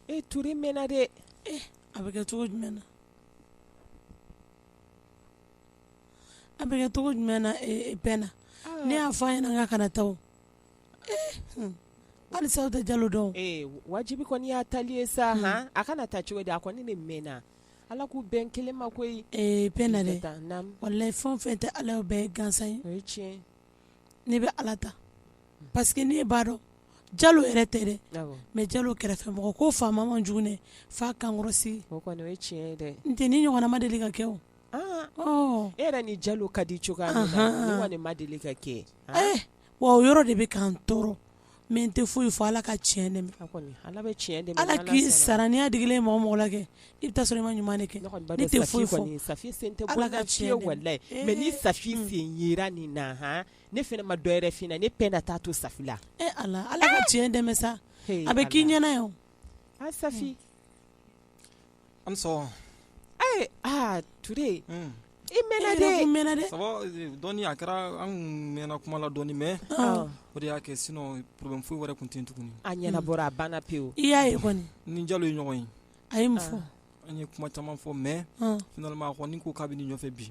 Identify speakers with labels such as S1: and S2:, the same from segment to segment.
S1: e Ture
S2: mɛnna
S1: dɛ a bɛ kɛ cogo jumɛn na a bɛ kɛ cogo jumɛn na Pɛna ne y'a fɔ a ɲɛna k'a kana taa halisa aw tɛ jalo dɔn wajibi kɔni
S2: y'a tali ye sa a kana taa cogo di a kɔni de mɛnna ala k'u bɛn kelen ma koyi Pɛna
S1: dɛ walayi fɛn o fɛn tɛ ala ye o bɛɛ gansan ye tiɲɛ
S2: ne
S1: bɛ ala ta parce que ne b'a dɔn jalo yɛrɛ tɛ dɛ mais jalo kɛrɛfɛmɔgɔ ko faama man jugu dɛ f'a kankɔrɔsigi
S2: n tɛ nin ɲɔgɔnna ma
S1: deli ka kɛ o e yɛrɛ ni
S2: jalo ka di cogoya min na nin kɔni ma deli ka kɛ wa
S1: o yɔrɔ de bɛ k'an tɔɔrɔ Mais n tɛ foyi fɔ ala ka cɛn
S2: dɛmɛ ala k'i sara
S1: n'i y'a digilen mɔgɔ mɔgɔ la kɛ i bɛ t'a sɔrɔ i ma ɲuman kɛ n tɛ
S2: foyi fɔ mais ni Safi sen yera nin na ne fana ma dɔwɛrɛ fɔ ne Pɛna t'a to Safi la ala ala ka
S1: cɛn dɛmɛ sa a bɛ k'i ɲɛna yan sa
S3: An sɔn ee aa Ture
S2: i mɛnna dɛ ça va dɔɔni a
S3: kɛra an mɛnna kuma la dɔɔni mais o de y'a kɛ sinon problème foyi wɛrɛ tun tɛ yen tuguni a ɲɛnabɔra a
S2: banna pewu i y'a ye
S1: kɔni ni jalo ye ɲɔgɔn
S3: ye a ye mun
S1: fɔ an ye kuma caman
S3: fɔ mais finalement a kɔni ko k'a bɛ nin ɲɔgɔnfɛ bi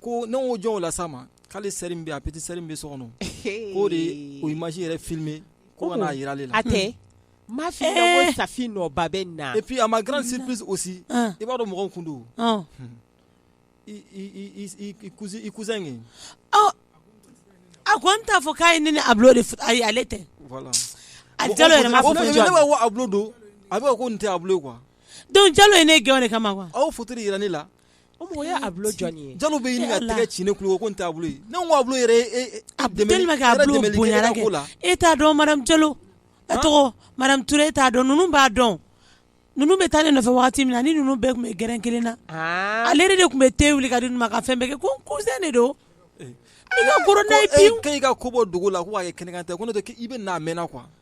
S3: Ko ne ko jɔn o la sa ma k'ale sœur min bɛ a petite sœur min bɛ so kɔnɔ o de o image yɛrɛ filmer ko ka n'a jira ale la a
S2: tɛ ma fi Safi nɔba bɛ na et puis à ma grande
S3: surprise aussi i b'a dɔn mɔgɔw tun don i cousin ye
S1: a ko n t'a fɔ k'a ye ne ni Ablo de ayi ale tɛ Ablo don
S3: a bɛ ko nin tɛ Ablo quoi donc jalo ye ne
S1: gɛn o de kama quoi aw photo jira ne la
S3: O mɔgɔ ye Ablo
S2: jɔn ye Jalo bɛ ɲini ka tɛgɛ
S3: ci ne tulo ko nin tɛ Ablo ye ne ko Ablo yɛrɛ e e tellement que Ablo
S1: bonyara kɛ ko la e t'a dɔn madame Jalo a tɔgɔ madame Ture e t'a dɔn ninnu b'a dɔn ninnu bɛ taa ne nɔfɛ wagati min na a ni ninnu bɛɛ tun bɛ gɛrɛn 1 na aa ale yɛrɛ de tun bɛ te wuli ka di ninnu ma ka fɛn bɛɛ kɛ ko n cousin de don i ka kɔrɔ n'a ye pewu ko e k'e ka ko bɔ dogo la
S3: ko k'a kɛ kɛnɛkantɛ ko n'o tɛ k'i i bɛ na a mɛna quoi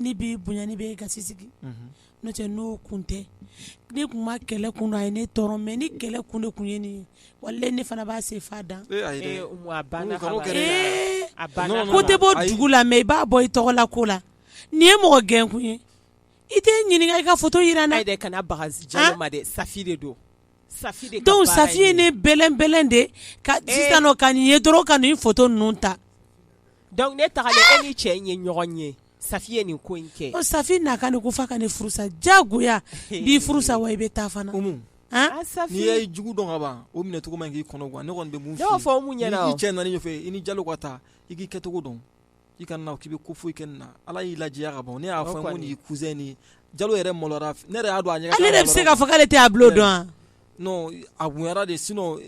S1: ne b'i bonya ne b'i gasi sigi unhun n'o tɛ n'o kun tɛ ne tun ma kɛlɛ kun dɔn a ye ne tɔɔrɔ mais ni kɛlɛ kun de tun ye nin ye walahi ne fana b'a se f'a dan ee ayi dɛ ee Umu a banna
S2: Umu kan'o kaban kɛ dɛ
S1: ee a banna non non ko tɛ bɔ ayi dugu la mais i b'a bɔ i tɔgɔ la ko la nin ye mɔgɔ gɛn kun ye i tɛ n ɲininka i ka photo jira n na ayi dɛ kana baga
S2: Jalo ma dɛ Safi de don sa Safi ye
S1: ne bɛlɛnbɛlɛn de ka ka nin ye dɔrɔn ka nin photo ninnu ta donc ne
S2: taara e ni cɛ in ye ɲɔgɔn ye Safi ye nin ko in kɛ Safi n'a ka ko
S1: f'a ka ne furusa jagoya b'i furusa wa i bɛ taa fana
S3: n'i ye jugu dɔn ka ban o minɛcogo man kan k'i kɔnɔgan ne kɔni bɛ
S2: mun fɔ i ni
S3: jalo ka taa i kɛcogo dɔn i kana k'i bɛ ko foyi kɛ nin na ala y'i lajɛya ka ban ne y'a fɔ ko nin cousin nin jalo yɛrɛ malora ne yɛrɛ y'a dɔn a ɲɛ ale yɛrɛ bɛ se k'a fɔ k'ale tɛ
S1: ablo dɔn a
S3: bonyara de sinon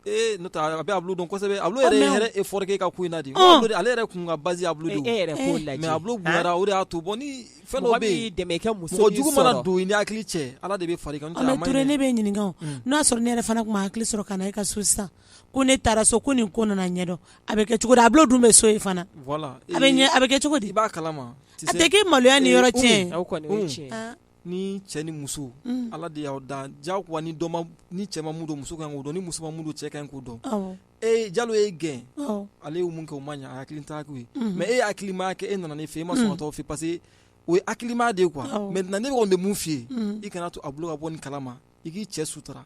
S3: a bɛ ablo dɔn kosɛbɛ ablo yɛrɛ effort kɛ e ka ko in na de ale yɛrɛ kun ka ba ablo de e yɛrɛ mais ablo
S2: bonyara o de
S3: y'a to bon ni fɛn dɔ bɛ dɛmɛ muso jugu
S2: mana don i n'i
S3: hakili cɛ ala de bɛ far'i kan ture ne bɛ ɲininka
S1: n'a sɔrɔ ne yɛrɛ fana tun ma hakili sɔrɔ ka na e ka so sisan ko ne taara so ko nin ko nana ɲɛdɔn a bɛ kɛ cogo di ablo dun bɛ so fana
S3: a bɛ kɛ
S1: cogo di i b'a
S3: kalama a tɛ kɛ
S1: maloya ni yɔrɔ
S2: tiɲɛ ni cɛ ni
S3: muso ala de y'aw dan ja ni ni cɛ ma mun don muso kan k'o dɔn ni muso ma mun don cɛ kan k'o dɔn ee jalo y'e gɛn ale ye mun kɛ o ma ɲɛ hakili ta ye mais e hakili ma kɛ e nana ne fɛ e ma sɔn ka t'o fɛ parce que o ye hakilima de ye quoi maintenant ne bɛ de mun f'i ye i kana to ablo ka bɔ nin kalama i k'i cɛ sutura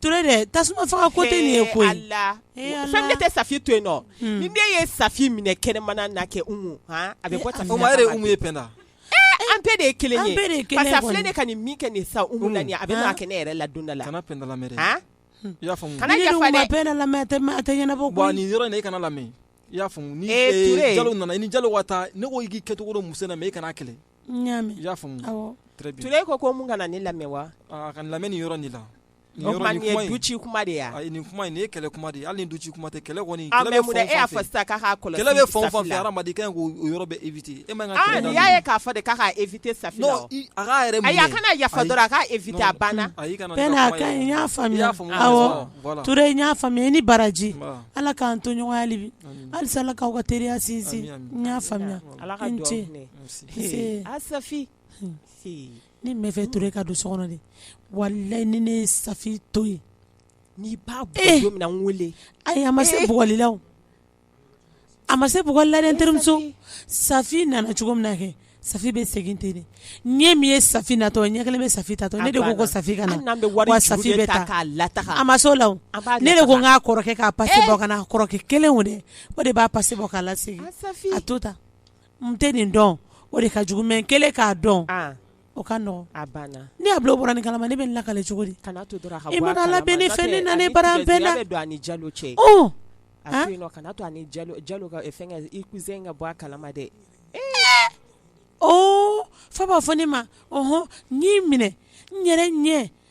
S1: Ture de tasuma faga ko tɛ ye ko fɛn
S2: ne tɛ safi to yen nɔ ni ne ye safi minɛ kɛnɛmana na kɛ a bɛ an
S3: bɛɛ de ye
S2: kelen ye ne ka nin min kɛ nin sa a bɛ kɛ ne yɛrɛ la don dɔ la kana
S1: kana
S3: lamɛn i y'a faamu ni jalo nana ni jalo wa taa ne ko k'i kɛcogo dɔn muso na e kana kɛlɛ y'a
S1: ture ko ko
S3: mun kana
S2: ne lamɛn wa a kana lamɛn nin
S3: yɔrɔ
S2: la duci kuma de nin kuma ye kɛlɛ
S3: kuma de hali ni duci kuma tɛ kɛlɛ kɔni fa
S2: kɛlɛ
S3: yɔrɔ bɛ éviter e ma y'a ye k'a
S2: de k'a éviter safi
S3: a kana yafa
S2: dɔrɔn k'a éviter
S1: a banna y'a faamuya i ni baraji ala k'an to ɲɔgɔn ye hali bi halisa ala k'aw ka teriya sinsin y'a faamuya Safi ne b'a fɛ ture ka don so kɔnɔ de walayi ni ne ye safi to yen n'i b'a
S2: weele ayi a ma se
S1: bugɔli la a ma se bugɔli la n terimuso safi nana cogo min na kɛ safi bɛ segin ten de ɲɛ min ye safi natɔ ɲɛ kelen bɛ safi taatɔ ne de ko safi ka na safi bɛ taa a ma se o la ne de ko n k'a kɔrɔkɛ k'a pase bɔ ka na kɔrɔkɛ kelen o de o de b'a pase bɔ k'a lasegin a to ta n tɛ nin dɔn o de ka jugu mais n kelen k'a dɔn, an, o ka nɔgɔn, a banna, ni ablo
S2: bɔra nin kalama
S1: ne bɛ nin lakale cogo di, kana to dɔrɔn a ka bɔ a kalama, i mana
S2: labɛn ni fɛn
S1: in nana ne bara an bɛɛ la, a bɛ don a ni jalo cɛ, ɔ,
S2: a to yen nɔ kana to a ni jalo jalo ka fɛnkɛ i cousin in ka bɔ a kalama dɛ, ee, oo,
S1: f'a b'a fɔ ne ma ɔnhɔn, n y'i minɛ n yɛrɛ ɲɛ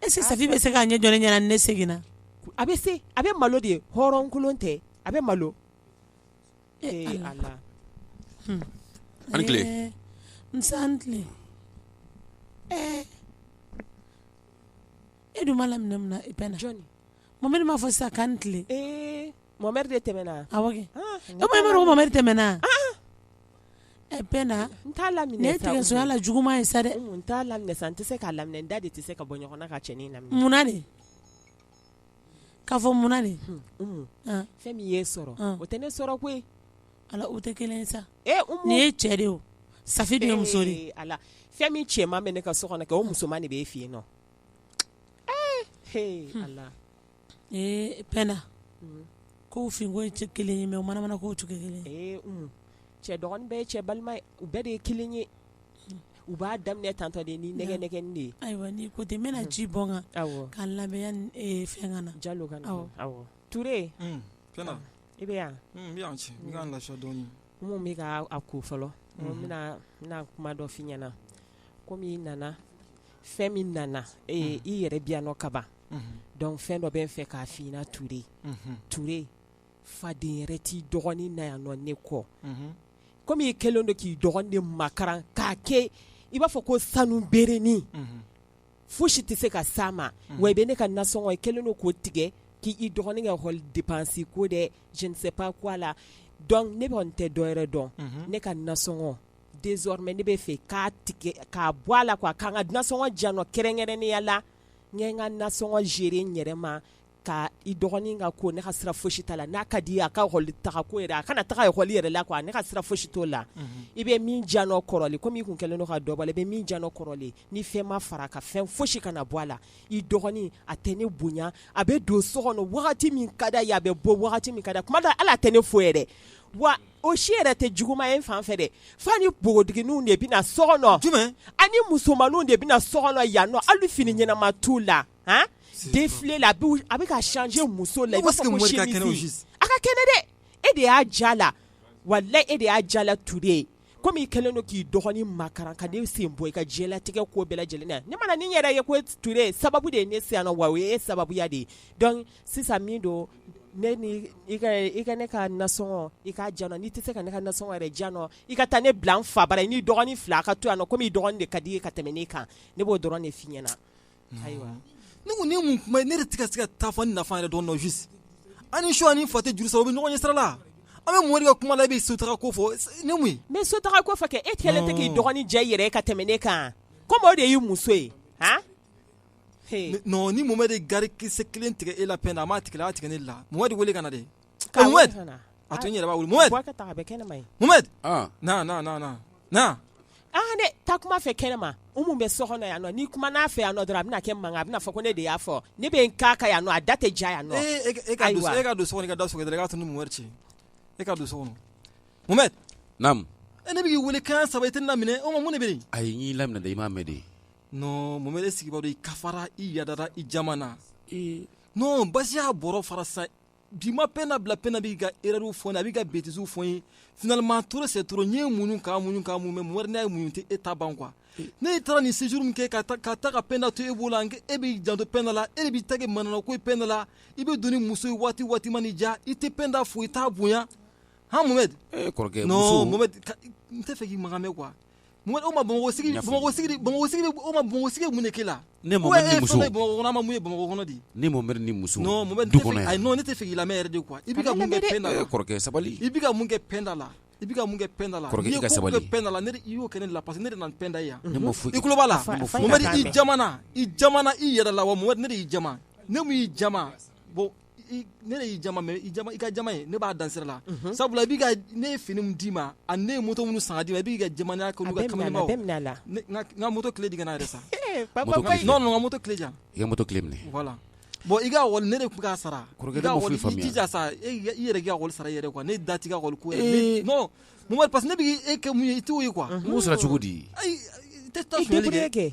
S1: Est-ce que safi bɛ se k'a ɲɛ jɔ ne ɲɛna ni ne seginna a bɛ
S2: se a bɛ malo de ye hɔrɔnkolon tɛ a bɛ malo
S1: su ani tile e dun m'a laminɛ mun na pɛnda jɔn
S2: mamɛdi m'a fɔ sa
S1: k'an tile
S2: Mamɛdi de tɛmɛna
S1: a Mamɛdi tɛmɛna Pɛna n t'a laminɛ tigɛ
S2: sonya la
S1: juguman ye sa dɛ n t'a laminɛ sa n tɛ
S2: se k'a laminɛ n da de tɛ se ka bɔ ɲɔgɔn na ka cɛnin laminɛ munna de
S1: k'a fɔ munna de
S2: fɛn min y'e sɔrɔ o tɛ ne sɔrɔ koyi ala o
S1: tɛ kelen sa nin ye cɛ de o Safi de muso de ala fɛn min
S2: cɛman bɛ ne ka so kɔnɔ kɛ o musoman de bɛ e fɛ yen nɔ
S1: ee Pɛna ko finko ye kelen ye mais o manamana ko cogo
S2: kelen ye cɛ dɔgɔnin bɛɛ cɛ balima u bɛɛ de ye kelen ye u b'a daminɛ tantɔ de ni nɛgɛnɛgɛnin de ye ayiwa n'i ko ten n bɛna
S1: ji bɔn a kan k'a labɛn fɛn ka na Jalo
S2: ka na
S3: Ture i
S2: bɛ yan
S3: i ka lafiya dɔɔnin mun bɛ ka a
S2: ko fɔlɔ n bɛna kuma dɔ f'i ɲɛna kɔmi i nana fɛn min nana i yɛrɛ bi yan nɔ kaban donc fɛn dɔ bɛ n fɛ k'a f'i ɲɛna Ture faden yɛrɛ t'i dɔgɔnin na yan nɔ ne kɔ kɔmi i kɛlen don k'i dɔgɔnin makaran k'a kɛ i b'a fɔ ko sanu berenin foyi si tɛ se ka s'a ma wa i bɛ ne ka nasɔngɔ i kɛlen don k'o tigɛ k'i dɔgɔnin ka école dépense ko dɛ je ne sais pas quoi là ne kɔni tɛ dɔ wɛrɛ dɔn ne ka nasɔngɔ désormais ne bɛ fɛ k'a tigɛ k'a bɔ a la quoi k'an ka nasɔngɔ di yan nɔ kɛrɛnkɛrɛnnenya la n ye n ka nasɔngɔ gérer n yɛrɛ ma ka i dɔgɔnin ka ko ne ka sira foyi si t'a la n'a ka di a ka école taa ko a kana taga école yɛrɛ la quoi ne ka sira foyi si t'o la i bɛ min di yan nɔ kɔrɔlen komi i tun kɛlen don ka dɔ bɔ a la i bɛ min di yan nɔ kɔrɔlen ni fɛn ma fara a kan fɛn foyi si kana bɔ a la i dɔgɔnin a tɛ ne bonya a bɛ don so kɔnɔ wagati min ka d'a ye a bɛ bɔ wagati min ka d'a ye kuma dɔ hali a tɛ ne fo yɛrɛ o si yɛrɛ tɛ juguman ye n fan fɛ dɛ fo a ni npogotigininw de bɛ na so kɔnɔ, jumɛn, a
S3: ni
S2: musomanninw de bɛ na so kɔnɔ yan nɔ hali fini ɲɛnama t'u la han, défilé là a bɛ ka changer muso la i b'a fɔ ko chemise a ka kɛnɛ dɛ e de y'a diy'a la walahi e de y'a diy'a la Ture comme i kɛlen don k'i dɔgɔnin makaran ka ne sen bɔ i ka diɲɛlatigɛ ko bɛɛ lajɛlen na ne mana nin yɛrɛ ye ko Ture sababu de ye ne se yan nɔ wa o ye e sababuya de ye donc sisan min don ne ni i ka i ka ne ka nasɔngɔ i k'a di yan nɔ n'i tɛ se ka ne ka nasɔngɔ yɛrɛ di yan nɔ i ka taa ne bila n fa bara i n'i dɔgɔnin fila a ka to yan nɔ komi i dɔgɔnin de ka di i ye ka tɛmɛ ne kan ne b'o dɔrɔn de f'i ɲɛna ayiwa ne ko nin
S3: ye mun kuma ye ne yɛrɛ tɛ ka se ka taa fɔ n nafa yɛrɛ dɔn nɔ juste a ni su a ni fa tɛ juru sara o bɛ ɲɔgɔn ɲɛ sira la an bɛ Mohamɛdi ka kuma la i bɛ sotaga ko fɔ ne mun ye n bɛ sotaga ko fɔ kɛ
S2: e kɛlen tɛ k'i dɔgɔnin diya i yɛrɛ ye ka tɛmɛ ne kan komi o de y'i muso ye han
S3: Ni Mohamɛdi gari kisɛ kelen tigɛ e la Penda a m'a tigɛ a tigɛ ne la Mohamɛdi wele ka na de a to n yɛrɛ
S2: ta kuma fɛ kɛnɛ ma bɛ so kɔnɔ yan ni kuma n'a fɛ yan dɔrɔn a bɛna kɛ mankan a bɛna fɔ ko ne de y'a fɔ ne bɛ ka yan a da tɛ ja yan e
S3: ka don ka da sɔgɔ ka to ni Mohamɛdi cɛ e ka don so
S4: ne b'i weele
S3: ko saba i tɛ n laminɛ o ma mun bɛ yen ayi n y'i laminɛ i
S4: m'a mɛn de Non Mohamɛdi
S3: e sigibaa don i kafara i yadara i jamana, ee non basi y'a bɔrɔ fara sisan bi ma Penda bila Penda b'i ka erreurs fɔ n ye a b'i ka bêtises fɔ n ye finalement trop c'est trop n ye muɲu ka muɲu ka muɲu mais Mohamɛdi n y'a ye muɲu tɛ e ta ban quoi ne taara nin séjour min kɛ ka taa ka taa ka Penda to e bolo janko e b'i janto Penda la e de b'i ta kɛ manamana ko ye Penda la i bɛ don ni muso ye waati waati mana i diya i tɛ Penda fo i t'a bonya han Mohamɛdi, ee kɔrɔkɛ muso, non
S4: Mohamɛdi
S3: n tɛ fɛ k'i makan mɛn quoi Mohamɛdi Bamakɔ sigi Mohamɛdi Bamakɔ sigi mun kɛ e la
S4: ne ma ma ye
S3: Bamakɔ di ne ma ni
S4: muso
S3: ne tɛ i lamɛn yɛrɛ de quoi i bɛ mun kɛ sabali i bɛ
S4: mun kɛ
S3: Penda la i bɛ mun kɛ Penda
S4: la
S3: sabali i
S4: y'o
S3: kɛ ne la parce que ne nana ni Penda ye yan i tulo b'a la i jamana i yɛrɛ la wa ne y'i jama ne y'i jama bon ne y'i jama mais i ka jama ye ne b'a dan sira la sabula ne ye fini d'i ma ani ne ye moto minnu san ka d'i ma i b'i ka jama la n ka moto clé di yan yɛrɛ sa n ka moto clé di yan i ka moto clé minɛ
S4: voilà bon
S3: i ka école ne de tun k'a
S4: sara i jija
S3: sa i yɛrɛ k'a sara i yɛrɛ quoi ne da t'i ka école ko parce que ne b' e kɛ mun ye i t'o ye quoi n b'o sara cogo di tɛ kɛ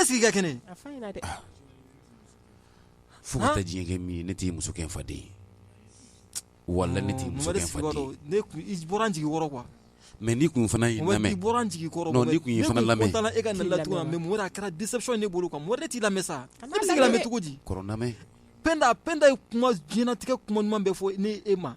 S3: e sigi ka kɛnɛ
S4: fo ka diɲɛ min ne t'i muso kɛ faden ye wa ne ne
S3: jigin kuwa mɛ ni kun
S4: fana jigin
S3: lamɛn
S4: e ka la
S3: mɛ kɛra disa ne bolo ka mori ne t'i lamɛn sa bɛ cogo di pda
S4: pda
S3: ye kuma jinatigɛ kuma ɲuman bɛ fɔ n' e ma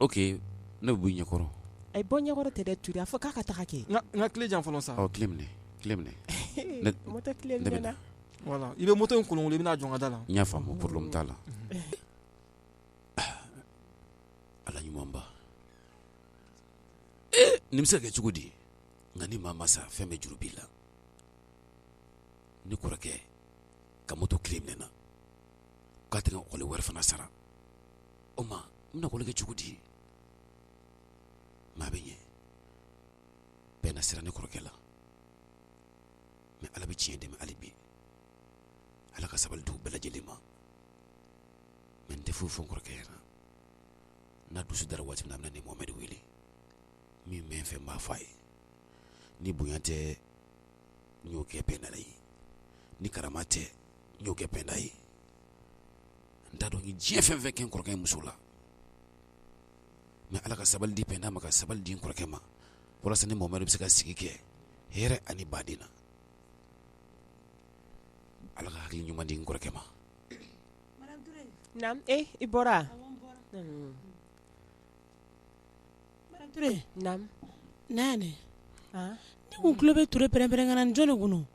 S4: Ok ne bɛ bɔ i ɲɛkɔrɔ ayi bɔ n ɲɛkɔrɔ
S2: tɛ dɛ Ture a fɔ k'a ka taga kɛ n ka clé di yan fɔlɔ
S3: sa clé
S2: minɛ i bɛ moto
S3: in kolonkolon i bɛna a jɔ n ka da la n y'a faamu problème t'a
S4: la Ala ɲumanba nin bɛ se ka kɛ cogo di nka ni maa ma sa fɛn bɛɛ juru b'i la ne kɔrɔkɛ ka moto clé minɛ n na k'a tɛ école wari fana sara o ma n bɛna ekɔli kɛ cogo di maa bɛ ɲɛ penda siran ne kɔrɔkɛ la mɛ ala bɛ tiɲɛ dɛmɛ hali bi ala ka sabali d'u bɛɛ lajɛlen ma mɛ n tɛ foyi fɔ n kɔrɔkɛ yɛrɛ n'a dusu dara waati min na a bɛna ne mohamɛdi wele min bɛ n fɛ n b'a fɔ a ye ni bonya tɛ n y'o kɛ penda ye ni karama tɛ n y'o kɛ penda ye n t'a dɔn n ye diɲɛ fɛn fɛn kɛ n kɔrɔkɛ muso la mɛ ala ka sabali di penda ma ka sabali di n kɔrɔkɛ ma walasa ne mohamɛdi bɛ se ka sigi kɛ hɛrɛ ani baden na ala ka hakili ɲuman di n kɔrɔkɛ ma
S2: naamu e i
S1: bɔra naamu naani ne kun tulo bɛ ture pɛrɛnpɛrɛnkan na ni jɔn de kun don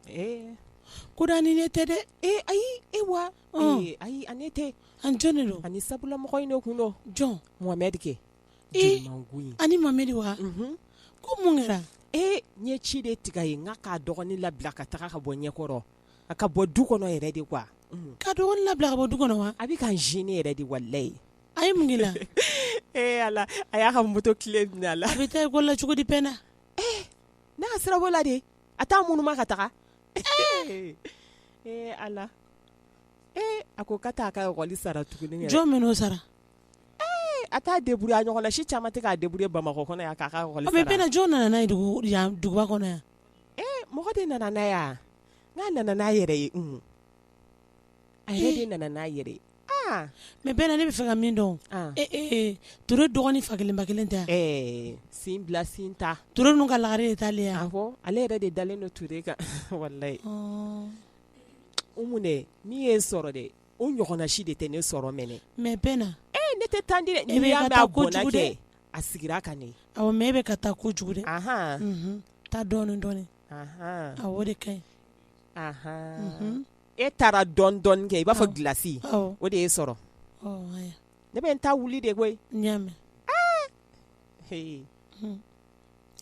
S1: ko ni ne tɛ dɛ e ayi e wa
S2: Ee ayi a ni ne tɛ a ni jɔn de don a
S1: ni sabula mɔgɔ in de
S2: kun don jɔn mohamɛdi kɛ
S1: ee a ni mohamɛdi wa ko mun kɛra e n ye ci
S2: de tigɛ a ye n k'a ka dɔgɔnin labila ka taga ka bɔ ɲɛkɔrɔ a ka bɔ du kɔnɔ yɛrɛ de kuwa ka dɔgɔnin
S1: labila ka bɔ du kɔnɔ wa a bɛ ka n zene yɛrɛ
S2: de walayi a ye mun k'i
S1: la ee ala
S2: a y'a ka moto kile minɛ a la a bɛ taa ekɔli la cogo
S1: di penda ee
S2: ne ka sira b'o la de a t'a ŋunuma ka taga ee ala
S1: ee a ko
S2: k'a t'a ka
S1: ekɔli sara
S2: tuguni jɔn
S1: bɛn'o
S2: sara a t'a deburuye a ɲɔgɔn na si caman tɛ k'a deburuye bamakɔ kɔnɔ yan k'a penda jɔn nana n'a
S1: ye duguba kɔnɔ yan ee mɔgɔ
S2: de nana n'a ye wa n'a nana n'a yɛrɛ ye a yɛrɛ de nana n'a yɛrɛ mɛ
S1: penda ne bɛ fɛ ka min dɔn ture dɔgɔnin fa kelen ba kelen tɛ sin
S2: bila sin ta ture ninnu ka lagare de
S1: t'ale ye wa awɔ ale yɛrɛ de dalen
S2: don ture kan walayi umu dɛ min ye n sɔrɔ dɛ o ɲɔgɔnna si de tɛ ne sɔrɔ mɛnɛ mɛ penda e ne
S1: tɛ tan
S2: di dɛ a sigira kan ne mɛ e bɛ ka taa
S1: kojugu dɛ taa dɔɔnin dɔɔnin awɔ o de ka ɲi
S2: e taara dɔɔnin dɔɔnin kɛ i b'a fɔ gilasi o de ye n sɔrɔ ne bɛ n ta wuli de
S1: koyi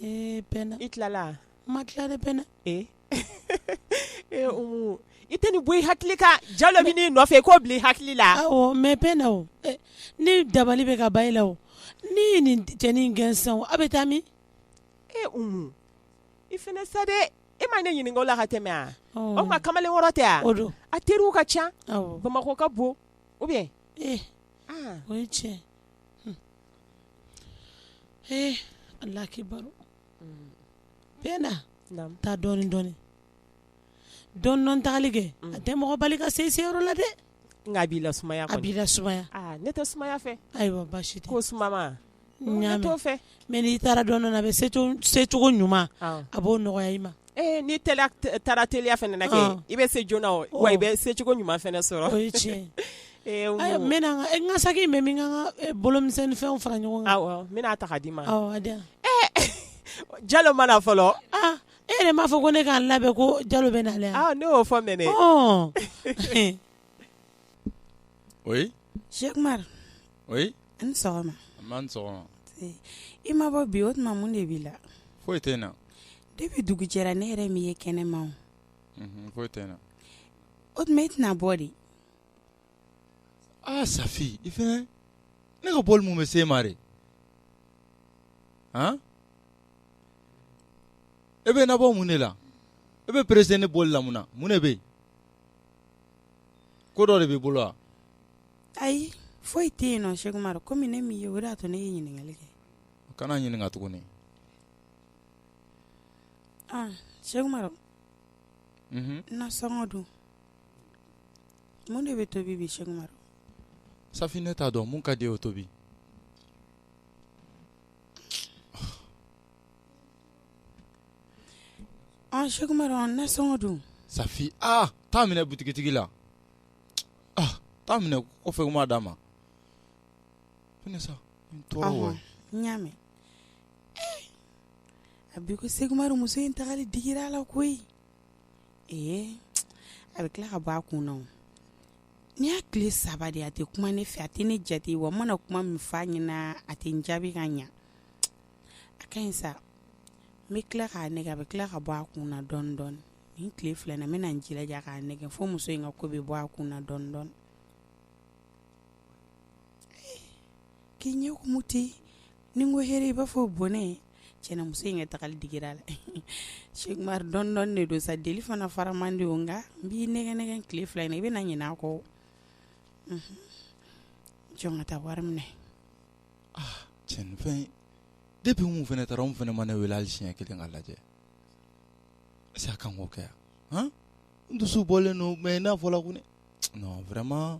S1: i tilala
S2: n ma tila dɛ penda umu i tɛ nin bɔ i hakili kan jalo bɛ n'i nɔfɛ k'o bila i hakili la mɛ penda
S1: o ni dabali bɛ ka ban i la o n'i ye nin cɛnin gɛn sisan o a bɛ taa min e
S2: i fana sa dɛ e ma ne ɲininka o la ka tɛmɛ wa o tuma kamalen wɔɔrɔ tɛ wa o don a teriw
S1: ka ca
S2: bamakɔ ka
S1: bon
S2: ou bien
S1: ee o ye tiɲɛ ee alakibaru penda taa dɔɔnin dɔɔnin dɔɔnin dɔɔnin tagali kɛ a tɛ mɔgɔ bali ka se i seyɔrɔ la dɛ nka a b'i lasumaya
S2: a b'i lasumaya
S1: ne tɛ sumaya
S2: fɛ ayiwa baasi tɛ ko sumaya ne t'o fɛ
S1: mɛ
S2: n'i taara dɔɔnin
S1: a bɛ secogo ɲuman a b'o nɔgɔya i ma ee n'i
S2: taara teliya fana na kɛ i bɛ se joona wa i bɛ secogo ɲuman fana sɔrɔ o
S1: ye tiɲɛ n n ka saki bɛ min ka bolomisɛnninfɛn fara ɲɔgɔn kan n bɛna ta k'a d'i ma
S2: jalo ma na fɔlɔ e yɛrɛ
S1: m'a fɔ ko ne ka n labɛn ko jalo bɛ na ne y'o fɔ
S5: mɛn o
S6: sɛkumaru
S5: an sɔgɔma
S6: sɔgɔma
S5: i ma
S6: bɔ bi o tuma mun de b'i la foyi tɛ n na
S5: depuis
S6: dugu jɛra ne yɛrɛ m'i ye kɛnɛma foyi
S5: tɛ n na o tuma
S6: e tɛna bɔ de aa
S5: safi i fana ne ka bɔli mun bɛ se ma de e bɛ n nabɔ mun de la e bɛ perese ne bɔli la munna mun de bɛ yen ko dɔ de b'i bolo wa ayi
S6: foyi tɛ yen nɔn sɛkumaru kɔmi ne m'i ye o de y'a to ne ye ɲininkali kɛ kana ɲininka tuguni ah sɛkumaru mhm. nasɔngɔ dun mun de bɛ tobi bi sɛkumaru safi ne
S5: t'a dɔn mun ka d'i ye o tobi
S6: An sɛkumaru nasɔngɔ dun safi aa
S5: taa minɛ butigitigi la taa minɛ kɔfɛ n b'a d'a ma
S6: n y'a mɛn abi ko sɛkumaru muso in tagali digira a la koyi ee a bɛ tila ka bɔ a kun nin y'a tile saba de a tɛ kuma ne fɛ a tɛ ne jate wa n mana kuma min f'a ɲɛna a tɛ n jaabi ka ɲɛ a ka ɲi sa n bɛ tila k'a nɛgɛ a bɛ tila ka bɔ a kun na dɔɔnin dɔɔnin nin tile fila na n bɛna n jilaja k'a nɛgɛ fo muso in ka ko bɛ bɔ a kun na dɔɔnin dɔɔnin k'i ɲɛ kumu ten ni n ko hɛrɛ i b'a fɔ bɔnɛ tiɲɛ na muso in ka tagali digira a la sɛkumaru dɔɔnin dɔɔnin de don sa deli fana fara man di nka n b'i nɛgɛ nɛgɛ tile fila in i bɛna ɲina a kɔ jɔ n ka taa wari minɛ
S5: cɛ nin fɛ depuis mun fana taara mun fana ma ne wele hali siɲɛ kelen ka n lajɛ est-ce que a kan k'o kɛ yan n dusu bɔlen don mɛ n'a fɔla ko ne non vraiment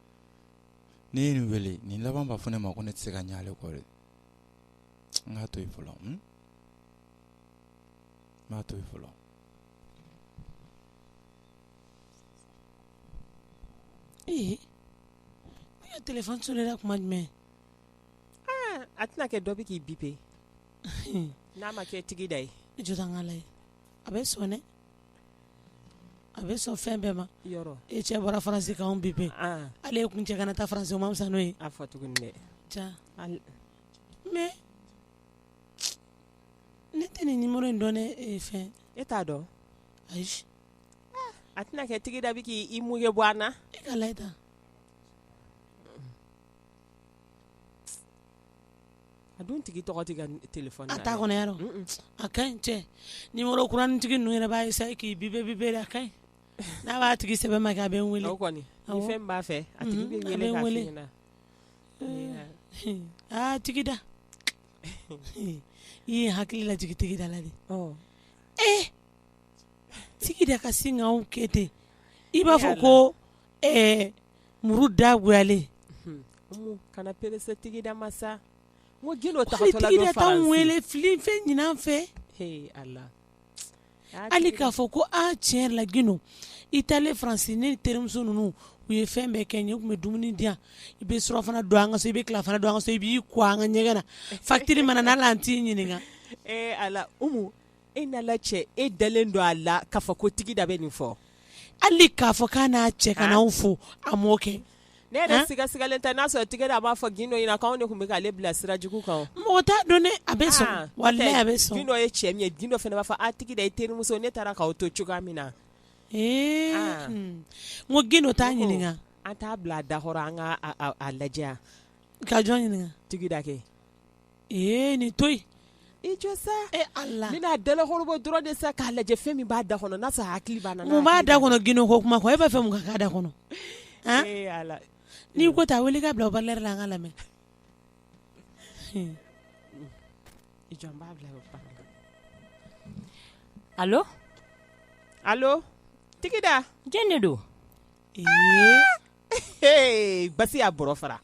S5: ni n ye nin wele nin laban b'a fɔ ne ma ko ne tɛ se ka ɲa ale kɔ dɛ n k'a to yen fɔlɔ n b'a to yen fɔlɔ
S1: ee ne ka telefɔni sonera tuma
S2: jumɛn a tɛna kɛ dɔ bɛ k'i bipe n'a ma kɛ tigi da ye jɔ tan n k'a lajɛ
S1: a bɛ sone a bɛ sɔn fɛn bɛɛ ma e cɛ
S2: bɔra
S1: Faransi k'an biper ale ko n cɛ
S2: kana
S1: taa Faransi ma
S2: fisa n'o
S1: ye mɛ ne tɛ nin numéro in dɔn ne fɛn e t'a
S2: dɔn ayi a tɛna kɛ Tigida bɛ k'i mɔnɛ bɔ an na e ka a dun tigi tɔgɔ tɛ ka téléphone a t'a kɔnɔ
S1: yaro a ka ɲi cɛ numéro kuranitigi ninnu yɛrɛ b'a essayer k'i biper biper a ka ɲi n'a b'a tigi sɛbɛ ma kɛ a bɛ n wele, o kɔni ni fɛn min b'a
S2: fɛ a tigi bɛ wele k'a fɔ i ɲɛna, aa Tigida
S1: i ye n hakili lajigin Tigida la dɛ, ɔ, ee Tigida ka sin k'anw kɛ ten i b'a fɔ ko ɛɛ muru
S2: dagoyalen kana perese Tigida masa t'anw wele
S1: fi
S2: fɛn
S1: ɲinan fɛ
S2: hali
S1: k'a fɔ ko tiɲɛ yɛrɛ la Gindo i taalen faransi ne terimuso ninnu u ye fɛn bɛɛ kɛ n ye u tun bɛ dumuni di yan i bɛ surɔfana dun an ka so i bɛ tilafana dun an ka so i b'i ko an ka ɲɛgɛn na facture mana n'a la an t'i ɲininka
S2: e n'Ala cɛ e dalen don a la k'a fɔ ko Tigida bɛ nin fɔ hali k'a
S1: fɔ k'a n'a cɛ ka n'anw fo a m'o kɛ ne yɛrɛ sigasigalen
S2: tɛ n'a sɔrɔ Tigida b'a fɔ Gindo ɲɛna k'anw de tun bɛ ale bila sira jugu kan mɔgɔ t'a dɔn ne a
S1: bɛ sɔn walayi a bɛ sɔn Gindo ye cɛ min ye
S2: Gindo fana b'a fɔ a Tigida i terimuso ne taara k'aw to cogoya min na
S1: ee n ko Gindo t'a ɲininka an t'a bila a da
S2: kɔrɔ an k'a lajɛ ka jɔn
S1: ɲininka Tigida kɛ ee nin to yen i jɔ sa
S2: e Ala n
S1: bɛna a
S2: dalakɔrɔbɔ dɔrɔn de sa k'a lajɛ fɛn min b'a da kɔnɔ n'a sɔrɔ a hakili b'a la mun b'a da kɔnɔ Gindo
S1: ko kuma ko e b'a fɛ mun ka k'a da kɔnɔ han ee Ala
S2: ne ko
S1: t'a wele i k'a bila haut-parleur la an k'a lamɛn
S2: i jɔ n b'a bila haut-parleur
S7: la
S2: allo allo Tigida jɔni de don
S7: ee ee
S2: baasi y'a bɔrɔ fara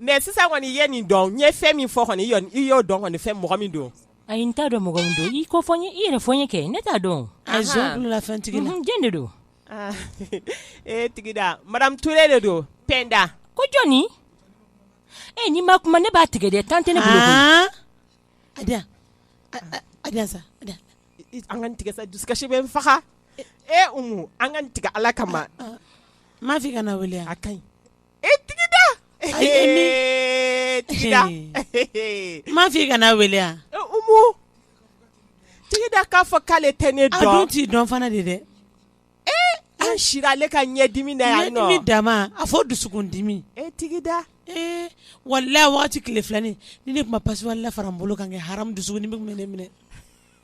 S2: mɛ sisan kɔni i ye nin dɔn n ye fɛn min fɔ kɔni i y'o dɔn kɔni fɛn mɔgɔ min don ayi n t'a dɔn mɔgɔ
S7: min don i k'o fɔ n ye i yɛrɛ fɔ n ye kɛ ne t'a dɔn
S1: fɛn Tigida jɔn de don
S7: e Tigida
S2: madame Touré de don Penda ko
S7: jɔnni e n'i ma kuma ne b'a tigɛ dɛ tan tɛ ne
S1: bolo an
S2: k'a tigɛ dusukasi bɛ n faga e an k'a tigɛ Ala kama m'a f'i
S1: kana wele a ka ɲi
S2: E Tigida Tigida
S1: m'a fɔ i kana wele
S2: Umu Tigida k'a fɔ k'ale tɛ ne dɔn a dun t'i dɔn fana de
S1: dɛ
S2: an sira ale ka ɲɛdimi na yan nɔ ɲɛdimi dama a
S1: fɔ dusukundimi e Tigida
S2: ee
S1: walayi waati tile filanin ni ne tun ma pasiwali la fara n bolo kan kɛ haramu dusukundimi tun bɛ ne minɛ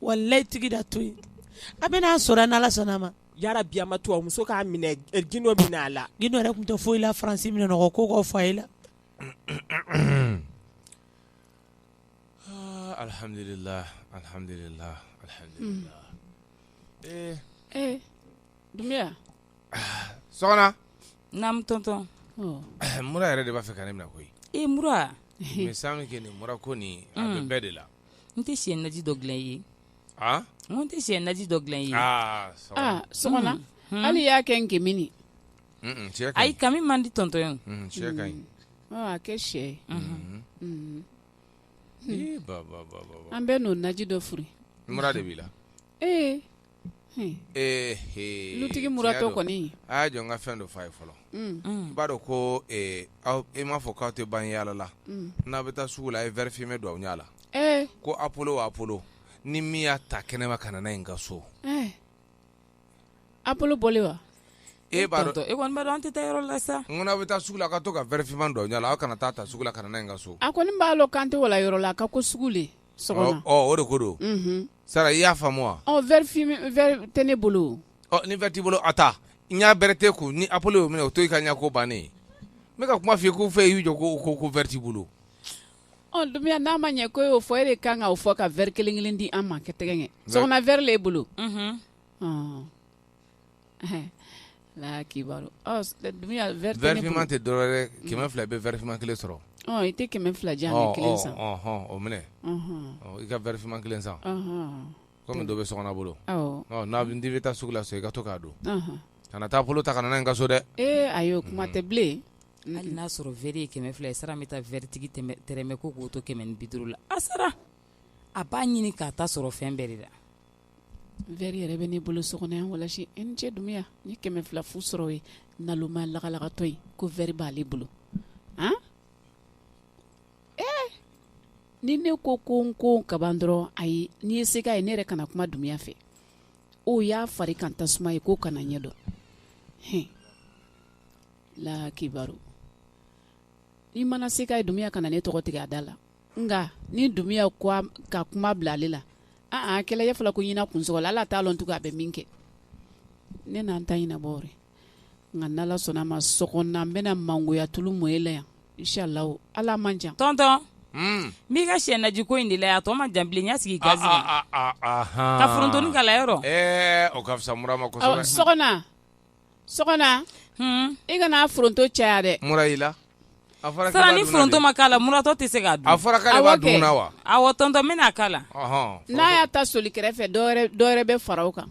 S1: walayi tigi da to yen a bɛ n'a sɔrɔ n ala sɔnna a ma yarabi a ma to
S2: a muso k'a minɛ gindo minɛ a la gindo yɛrɛ tun tɛ foyi la
S1: faransi minɛ nɔgɔ ko ka fa i la
S5: alihamdulila
S6: alihamdulila
S5: dunbiya sɔgɔna
S7: naamu tɔntɔn mura
S5: yɛrɛ de b'a fɛ ka ne minɛ koyi i mura
S7: san
S5: kɛ nin mura ko nin bɛɛ de la n tɛ sɛ
S7: naji dɔ dilan i ye n tɛ sɛ naji dɔ dilan i ye
S6: sɔgɔna hali y'a kɛ nkaminin
S7: ayi kami man di tɔntɔn ye
S5: a kɛ sɛ an bɛn'o naji dɔ
S6: foori mura de b'i la
S5: ee
S6: ee he dutigi muratɔ kɔni a y'a jɔ n ka fɛn
S5: dɔ fɔ a ye fɔlɔ i b'a dɔn ko e m'a fɔ k'aw tɛ ban yaala la n'a bɛ taa sugu la a ye vɛri fime don aw ɲɛ la ko apolo apolo ni min y'a ta kɛnɛma ka na n'a ye n ka so
S6: apolo bɔlen wa e b'a
S5: dɔn e kɔni an tɛ taa yɔrɔ la
S7: sa n'aw bɛ taa sugu la a ka to
S5: ka vɛri finman don aw ɲɛ la aw kana taa a ta sugu la ka na n'a ye n ka so a kɔni b'a dɔn k'an
S6: tɛ wala yɔrɔ la a ka ko sugu de o de ko
S5: don sara i y'a faamu wa
S6: vɛri tɛ ne bolo ni vɛri t'i bolo
S5: a ta n y'a bɛrɛ tɛ kun ni apolo y'o minɛ o to i ka ɲɛ ko bannen ye ne bɛ ka kuma f'i ye ko fɛ y'u jɔ ko ko ko vɛri t'i
S6: bolo dunbiya n'a ma ɲɛ ko y'o fɔ e de kan k'o fɔ ka vɛri kelen kelen di an ma kɛ tɛgɛ kɛ sɔgɔna vɛri le bolo
S5: vɛri finman
S6: tɛ
S5: dɔwɛrɛ kɛmɛ fila bɛ vɛri
S6: finman
S5: kelen
S6: sɔrɔ i tɛ kɛmɛ fila di yan o minɛ
S8: i ka vɛri finman kelen san kɔmi dɔ bɛ sɔgɔna bolo n'i bɛ taa sugu la so i ka to k'a don kana taa apolo ta ka na n ka so dɛ ee ayi o kuma tɛ
S6: bilen hali n'a sɔrɔ
S7: vɛri ye kɛmɛ fila ye sara bɛ taa vɛritigi tɛrɛmɛ ko k'o to kɛmɛ ni bi duuru la a sara a b'a ɲini k'a ta sɔrɔ fɛn bɛɛ de la
S6: vɛri yɛrɛ bɛ ne bolo so kɔnɔ yan walasi n cɛ dunbiya ni kɛmɛ fila fu sɔrɔ ye nalonma lagalagatɔ ye ko vɛri b'ale bolo a ee ni ne ko ko n ko kaban dɔrɔn ayi n'i ye se k'a ye ne yɛrɛ kana kuma dunbiya fɛ o y'a fari kan tasuma ye k'o kana ɲɛ dɔn la kibaru i mana se k'a ye dunbiya kana ne tɔgɔ tigɛ a da la nka ni dunbiya ka kuma bila ale la aa kɛlɛ ye fɔlɔ ko ɲina kunsogo la ala t'a dɔn tugun a bɛ min kɛ ne na an t'a ɲɛnabɔ nka n ala sɔnna a ma sɔgɔna n bɛna mangoya tulu mɔ e la yan inshalla ala man jan tɔntɔn
S7: hmm. n b'i ka sɛ naji ko in de la yan a tɔ man jan bilen n y'a sigi gazi kan ka forontonin k'a la yɔrɔ o ka fisa mura
S8: ma kosɛbɛ
S6: sɔgɔna i kana foronto caya dɛ mura y'i
S8: la sara
S7: ni foronto ma k'a la muratɔ tɛ se k'a dun a fɔra k'ale b'a
S8: dun na wa awɔ tonton bɛna k'a
S7: la n'a y'a ta
S6: soli kɛrɛfɛ dɔwɛrɛ bɛ fara kan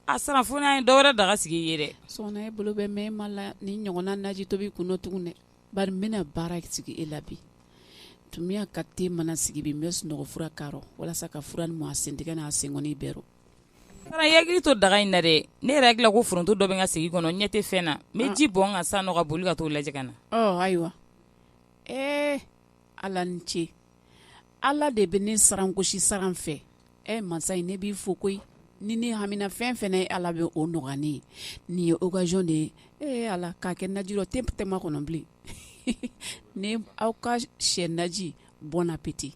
S7: a sara fo n'a ye dɔwɛrɛ daga sigi i ye dɛ sɔgɔna e bolo bɛ
S6: mɛ ma la ni ɲɔgɔnna naji tobi kun tugun dɛ bari n bɛna baara sigi e la bi Dunbiya ka te mana sigi bi n bɛ sunɔgɔ fura k'a rɔ walasa ka fura ni mɔ a sentigɛ n'a senkɔni bɛɛ Sara i
S7: hakili to daga in na dɛ, ne yɛrɛ hakili la ko foronto dɔ bɛ n ka segi kɔnɔ n ɲɛ tɛ fɛn na, n bɛ ji bɔn n kan sa nɔ ka boli ka t'o lajɛ ka na, ɔ ayiwa,
S6: ee Ala ni ce, Ala de bɛ ne sarangosi saran fɛ, ɛ mansa in ne b'i fo koyi, ni ne hamina fɛn o fɛn na Ala bɛ o nɔgɔya ne ye, nin ye occasion de ye, ee Ala k'a kɛ naji dɔ te tɛma kɔnɔ bilen, ni aw ka sɛ naji bon appétit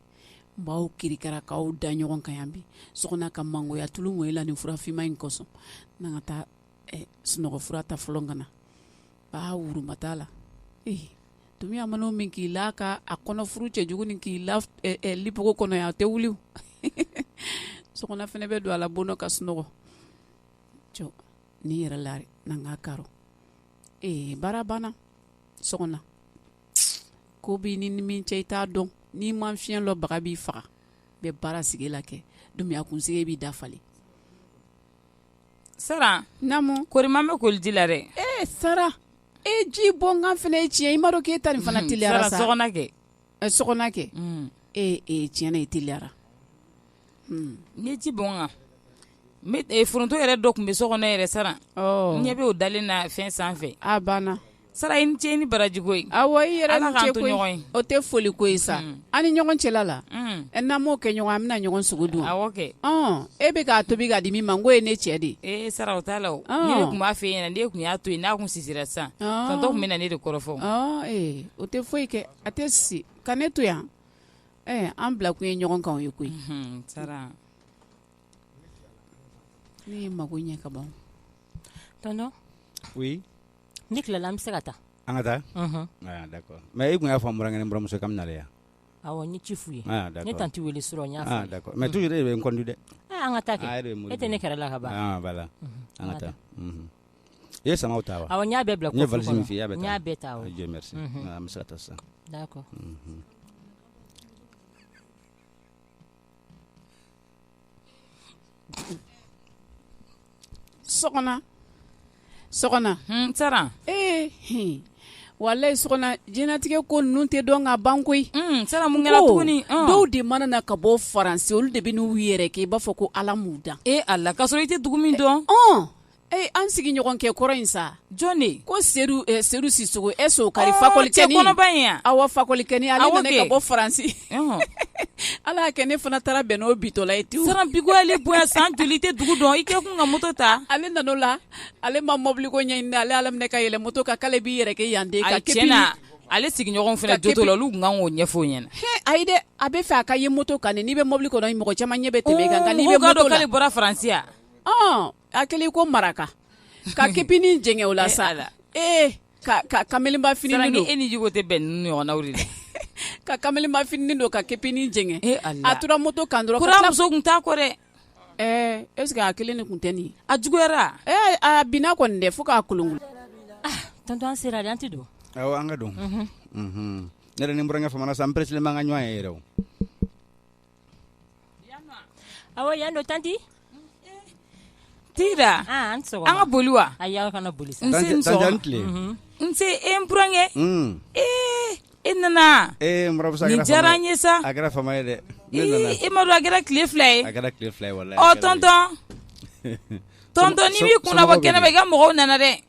S6: n b'aw kirikara k'aw da ɲɔgɔn kan yan bi sɔgɔna ka mangoya tulu mɔ e la nin furafinma in kosɔn n' ka taa sunɔgɔ fura ta fɔlɔ ka na ba wuruma t'a la ee Dunbiya man'o min k'i la ka a kɔnɔ furu cɛ jugu ni k'i la lipogo kɔnɔ yan a tɛ wuli sɔgɔna fɛnɛ bɛ don a la bon dɔ ka sunɔgɔ jɔ n'i yɛrɛ la n' ka k'a rɔ ee baara banna sɔgɔna ko bi ni ni min cɛ i t'a dɔn n'i ma fiɲɛ lɔnbaga b'i faga bɛ baara sigi la kɛ Dunbiya kunsigi b'i dafalen
S7: sara namu koroman
S6: bɛ koli ji
S7: la dɛ e
S6: sara e ji bɔn kan fɛnɛ ye tiɲɛ i ma dɔn k'e ta nin fana
S7: teliyara sa sɔgɔna kɛ sɔgɔna kɛ
S6: e e tiɲɛ na i teliyara
S7: Ni ji bɔn kan foronto yɛrɛ dɔ tun bɛ so kɔnɔ yɛrɛ sara ɲɛ bɛ o dalen na fɛn
S6: sanfɛ sara i ni ce ni
S7: baraji ko ye awɔ i yɛrɛ
S6: ni ce o tɛ foli ko ye sa an ni ɲɔgɔn cɛla la n'an m'o kɛ ɲɔgɔn an bɛna ɲɔgɔn sogo dun
S7: kɛ e bɛ
S6: k'a tobi k'a di min ma n ko ye ne cɛ de e sara o t'a
S7: la tun b'a fɛ yen ne tun y'a to yen n'a kun sisira sisan tonton tun bɛ na ne de kɔrɔfɔ o tɛ
S6: foyi kɛ a tɛ sisi ka ne to yan an bila kun ye ɲɔgɔn kan o ye koyi sara ne ye mago ɲɛ ka ban
S9: tonton oui n'i tilala
S10: an bɛ se ka taa an ka
S9: taa d'accord mais i kun y'a fɔ n burankɛ ni buramuso ka na yan n ye ci
S10: f'u ye ne tanti weele surɔ mais toujours e de bɛ n kɔn
S9: dɛ an ka taa
S10: e tɛ ne kɛra la ka ban voilà an ka
S9: taa i ye samaw ta wa awɔ n y'a bɛɛ bila kɔfuru kɔnɔ. n ye valise
S10: min f'i ye, i y'a bɛɛ ta n
S9: y'a bɛɛ ta awɔ.
S10: Dieu merci Mhm. Ah, an bɛ
S9: se ka taa sisan
S10: D'accord.
S6: Mhm. sɔgɔna sɔgɔna sara
S7: ee hin.
S6: walayi sɔgɔna jɛnatigɛ ko ninnu tɛ dɔn ka ban koyi sara mun kɛra tuguni,
S7: ɔn. dɔw de mana na
S6: ka bɔ faransi olu de bɛ n'u yɛrɛ kɛ i b'a fɔ ko ala m'u dan e ala ka sɔrɔ i tɛ dugu
S7: min dɔn Ee
S6: an sigiɲɔgɔn kɛkɔrɔ in sa jɔn de ko sedu sisɔkɔ e so kari fakɔlicɛ kɔnɔba in yan
S7: awɔ fakɔlikɛ
S6: nana ka bɔ faransi ala y'a kɛ ne fana taara bɛn n'o bintɔla ye tewu sara bi ale bɔ
S7: san joli tɛ dugu dɔn i kɛ kun ka moto ta ale nan'o
S6: la ale ma mɔbiliko ɲini ale ala minɛ ka yɛlɛ moto kan k'ale b'i yɛrɛ kɛ yanden ka ti na
S7: ale sigiɲɔgɔn fana jo la olu tun kan k'o ɲɛfɔ ɲɛna a ye dɛ a bɛ
S6: fɛ a ka ye moto kan n'i bɛ mɔbili kɔnɔ mɔgɔ caman ɲɛ bɛ tɛmɛ kan n'i bɛ dɔn k'ale bɔra faransi yan
S7: a
S6: kɛlen ko maraka ka kepinin jɛngɛ o la sa la ee ka kamalenba fini don e ni jugu tɛ bɛn
S7: nin ɲɔgɔnw de la ka kamalenba
S6: fini don ka kepinin jɛngɛ a tora moto kan dɔrɔn muso tun t'a kɔ dɛ
S7: ɛɛ
S6: ɛsike a kelen de tun tɛ nin a juguyara ɛɛ
S10: a
S6: bin
S7: kɔni dɛ
S6: fo
S10: k'a
S7: kolon
S10: tɔn sera a
S6: tɛ don
S9: an ka don ne ni n burankɛ famana san peresima ka ɲɔgɔn ye yɛrɛ o
S10: yan don tanti
S6: tira an ka boli wa boli
S9: nse
S6: e n burankɛ ee e nana
S9: diyara n
S6: ye sa dɛ e
S9: m'a dɔn
S6: a kɛra tile fila ye tɔntɔn n'i b'i kun nabɔ kɛnɛ ma i ka mɔgɔw nana dɛ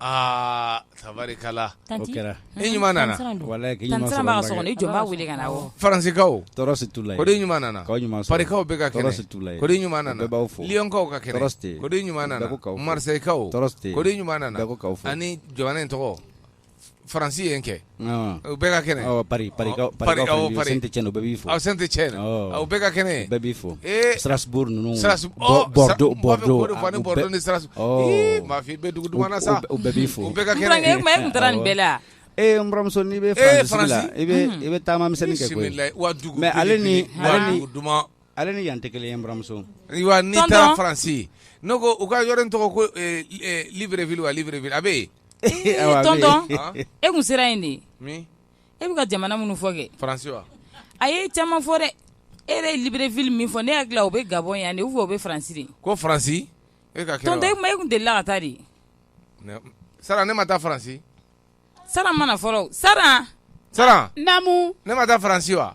S8: aa tabarikala o kɛra i
S9: ɲuman
S8: nana walahi k'i ɲuman sɔrɔ Tanti
S9: Sara bɛ so kɔnɔ i jɔ n b'a wele
S6: ka na awɔ Faransikaw tɔɔrɔ
S8: si t'u la yen kodi
S9: ɲuman nana k'aw
S8: ɲuman sɔrɔ Parikaw bɛɛ
S9: ka kɛnɛ tɔɔrɔ
S8: si t'u la yen kodi ɲuman
S9: nana bɛɛ b'aw
S8: fo Liyɔnkaw ka kɛnɛ tɔɔrɔ si tɛ yen kodi ɲuman nana
S9: bɛɛ ko k'aw fo
S8: Marisɛyikaw tɔɔrɔ si tɛ yen kodi ɲuman nana bɛɛ ko k'aw fo ani
S9: jamana in tɔgɔ
S8: faransi yen kɛ u bɛɛ
S9: ka kɛnɛ
S8: bɛɛ ka kɛnɛ bɛɛ b'i
S9: fo strasbourg ninnu
S8: mafin bɛ
S9: dugu min
S8: na sa bɛɛ b'i fo bɛɛ ka kɛnɛ nin
S6: bɛɛ la ee n buranmuso
S9: n'i bɛ i i bɛ taamamisɛn kɛ mɛ
S8: ale
S9: ni
S8: duman ale ni yan tɛ
S9: kelen n buranmuso n'i taara
S8: faransi n ko u ka yɔrɔ tɔgɔ ko libreville a bɛ yen
S6: E kun sera yen de
S8: e bɛ ka
S6: jamana minnu fɔ
S8: kɛ a ye caman fɔ
S6: dɛ e yɛrɛ ye libreville min fɔ ne hakili la o bɛ gabɔn yan de fɔ o bɛ faransi de ko
S8: faransi e kun de la ka
S6: taa
S8: de sara ne ma taa faransi sara
S6: ma na fɔlɔ sara
S11: naamu ne ma taa faransi
S8: wa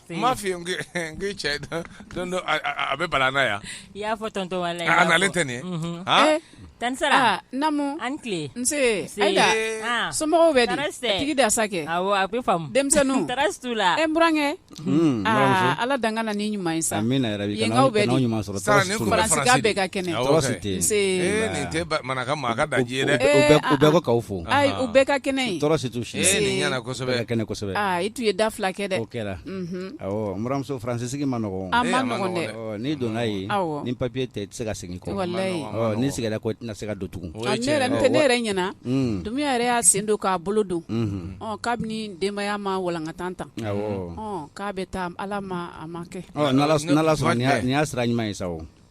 S10: N m'a
S8: f'i ye n k'i cɛ don dɔ a bɛ bala na yan, i y'a fɔ tonton Bala
S10: ye, a nalen tɛ nin ye,
S8: unhun, han, tante
S10: Sara, naamu, a
S11: ni tile, nse,
S10: Ayida,
S11: somɔgɔw bɛ di, tɔɔrɔ si tɛ yen, tigi da sa kɛ, awɔ, a bɛ faamu,
S10: denmisɛnninw, tɔɔrɔ si t'u la,
S11: e n burankɛ,
S10: un,
S11: aa Ala dan kana ni ɲuman ye sa, amina yarabi, yenkaw bɛ di,
S9: Sara nin tun bɛ
S11: faransi de, faransi
S9: bɛɛ ka
S11: kɛnɛ, tɔɔrɔ si tɛ yen, nse, ee
S9: nin tɛ
S8: manaka maa ka daji ye dɛ, u bɛɛ ko k'aw fo,
S9: ayi u bɛɛ ka kɛnɛ
S11: yen, tɔɔrɔ si t'u si la, ee nin
S9: ɲɛna kosɛbɛ, u bɛɛ ka
S8: kɛnɛ kosɛbɛ
S9: i tun ye da fila
S11: kɛ dɛ o
S9: kɛra awɔ n buranmuso faransi sigi ma nɔgɔ a ma nɔgɔ
S11: dɛ n'i donna
S9: yen ni papiye tɛ i tɛ se ka segin kɔ walayi n'i seginna
S11: kɔ i tɛna
S9: se ka don tugun ne yɛrɛ
S11: ɲɛna dumiya yɛrɛ y'a sen don k'a bolo don kabini denbaya ma walankata tan k'a bɛ taa ala ma a ma kɛ n'ala
S9: sɔnna nin y'a sira ɲuman ye sa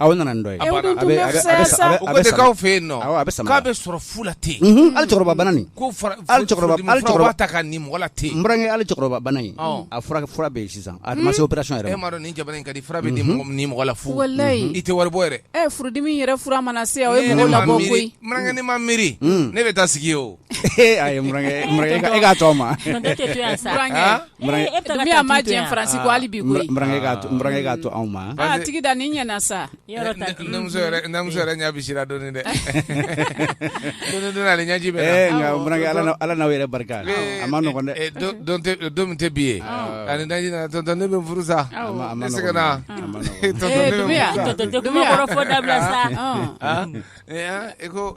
S8: A nana nin
S9: dɔ ye
S8: k'aw fɛ yen nɔ a bɛ k'a bɛ sɔrɔ fu la ten ali cɛkɔrɔba ten n burankɛ ali cɛkɔrɔba bana
S9: in a fura bɛ yen sisan a ma se operasiyɔn yɛrɛ ma nin jamana in ka
S8: di fura bɛ di mɔgɔ la fu walayi i tɛ wari bɔ yɛrɛ furudimi yɛrɛ fura mana
S11: se o n burankɛ ne ma miiri
S8: ne bɛ taa sigi o E ayi
S9: e k'a to n ma
S11: dumiya ma diɲɛ faransi kɔ hali bi koyi n burankɛ k'a to
S9: anw ma tigida nin ɲɛna
S11: sa
S8: n buranmuso yɛrɛ ɲɛsira dɔɔni dɛ ɲɛji bɛ
S9: ala n'aw yɛrɛ barika a ma nɔgɔ dɛ don min tɛ bi
S8: ye ani daji tonton ne bɛ furu sa e
S10: ko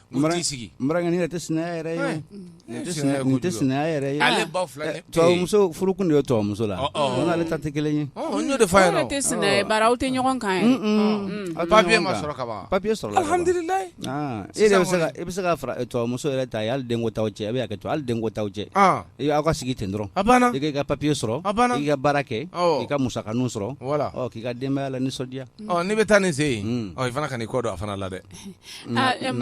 S8: tubabumuso furu kun
S9: de ye tubabumuso la ale ta tɛ kelen ye
S11: tɛ
S9: e bɛ se ka tubabumuso yɛrɛ ta hali den t'aw cɛ e bɛ hakɛ to hali den t'aw cɛ aw ka sigi ten dɔrɔn i ka
S8: papiye sɔrɔ
S9: i ka baara kɛ i ka musakanin sɔrɔ k'i ka denbaya lanisɔndiya n'i bɛ taa n'i
S8: se yen i fana k'i kɔ don a fana la dɛ
S11: N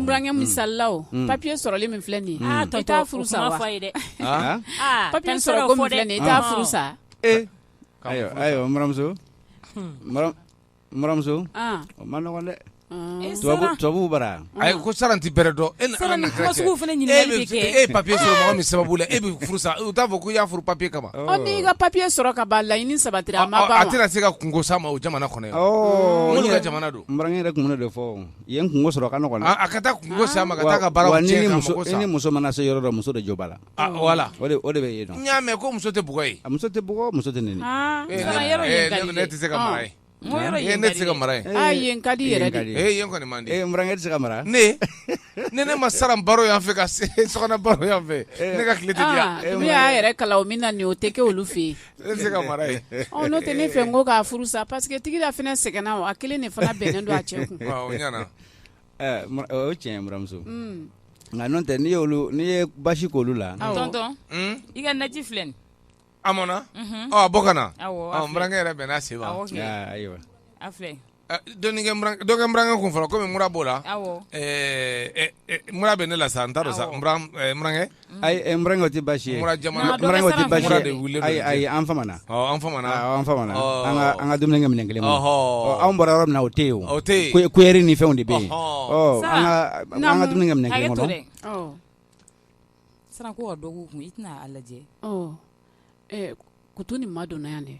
S11: burankɛ misali la papiye sɔrɔli min filɛ nin ye i t'a furu sa fɔ ye dɛ papiye sɔrɔ i t'a furu sa
S9: ayiwa n buranmuso o man nɔgɔ dɛ tubabu bara a ko saran tɛ
S8: bɛrɛ dɔn e ye papiye sɔrɔ mɔgɔ min sababu la e bɛ furu sa u t'a fɔ ko i y'a furu papiye kama i ka papiye
S11: sɔrɔ ka laɲini sabati a tɛna se ka kunko sama
S8: o jamana kɔnɔ Minnu ka jamana don n burankɛ yɛrɛ kun b'o de
S9: fɔ yen kunko sɔrɔ ka nɔgɔn a ka taa kunko sama
S8: ka taa ka baara tiɲɛ ni muso mana se yɔrɔ dɔ
S9: muso de jo b'a la wala o de
S8: bɛ yen
S9: n y'a mɛn ko muso tɛ
S8: bugɔ yen muso tɛ bugɔ muso tɛ
S9: nɛni
S8: ne tɛ se ka mara ye ne tɛ se ka mara ye yen ka di
S11: yɛrɛ kɔni
S8: n burankɛ tɛ se ka mara ne ne ne ma saran baro yan fɛ ka baro yan fɛ ne ka tile y'a yɛrɛ
S11: kalan min na nin o tɛ kɛ olu fɛ yen Ne tɛ se ka mara ye
S8: n'o tɛ ne fɛ n
S11: ko k'a furu sa paseke tigida fana sɛgɛnna o a kelen de fana bɛnnen don a cɛ kun
S9: o ɲɛna o ye tiɲɛ ye n buranmuso nka n'o tɛ nin ye basi ko olu
S7: la tonton i ka naji filɛ nin
S8: a mɔna a bɔ ka na n burankɛ yɛrɛ bɛna se ayiwa Dɔ kɛ n burankɛ kun fɔlɔ kɔmi mura b'o la mura bɛ ne la sa n t'a dɔn sa n burankɛ
S9: ayi n burankɛ o tɛ
S8: baasi
S9: ye ayi
S8: an an
S9: ka
S8: dumuni
S9: kɛ minɛn kelen ma anw bɔra yɔrɔ min na o tɛ yen o tɛ kuyɛri ni fɛnw de bɛ yen an ka dumuni kɛ minɛn kelen
S7: kɔnɔ sisan ko dɔ k'u kun i tɛna a lajɛ
S11: kudu nin ma don yan dɛ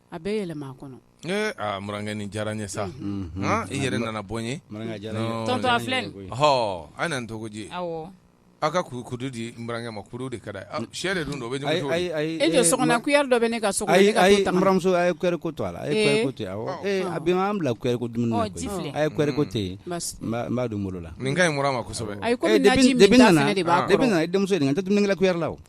S7: A
S11: bɛɛ yɛlɛma a kɔnɔ ee aa n burankɛ
S8: nin diyara n ye sa i yɛrɛ nana bɔ n ye tonton
S7: a filɛ an nan tɔgɔji
S8: aw ka kudu di n burankɛ ma kudu de ka d'a ye sɛ de dun dɔ bɛ e so
S11: kuyɛri dɔ bɛ ne ka so ayi n buranmuso a ye kuyɛri
S9: ko
S11: to
S9: a la a ye ko a bɛ an bila ko a ye kuyɛri ko to yen n b'a dun bolo la nin ka ɲi mura ma kosɛbɛ
S8: de bɛ
S11: nana depuis nana i denmuso nin ka tɛ dumunikɛla
S9: kuyɛri la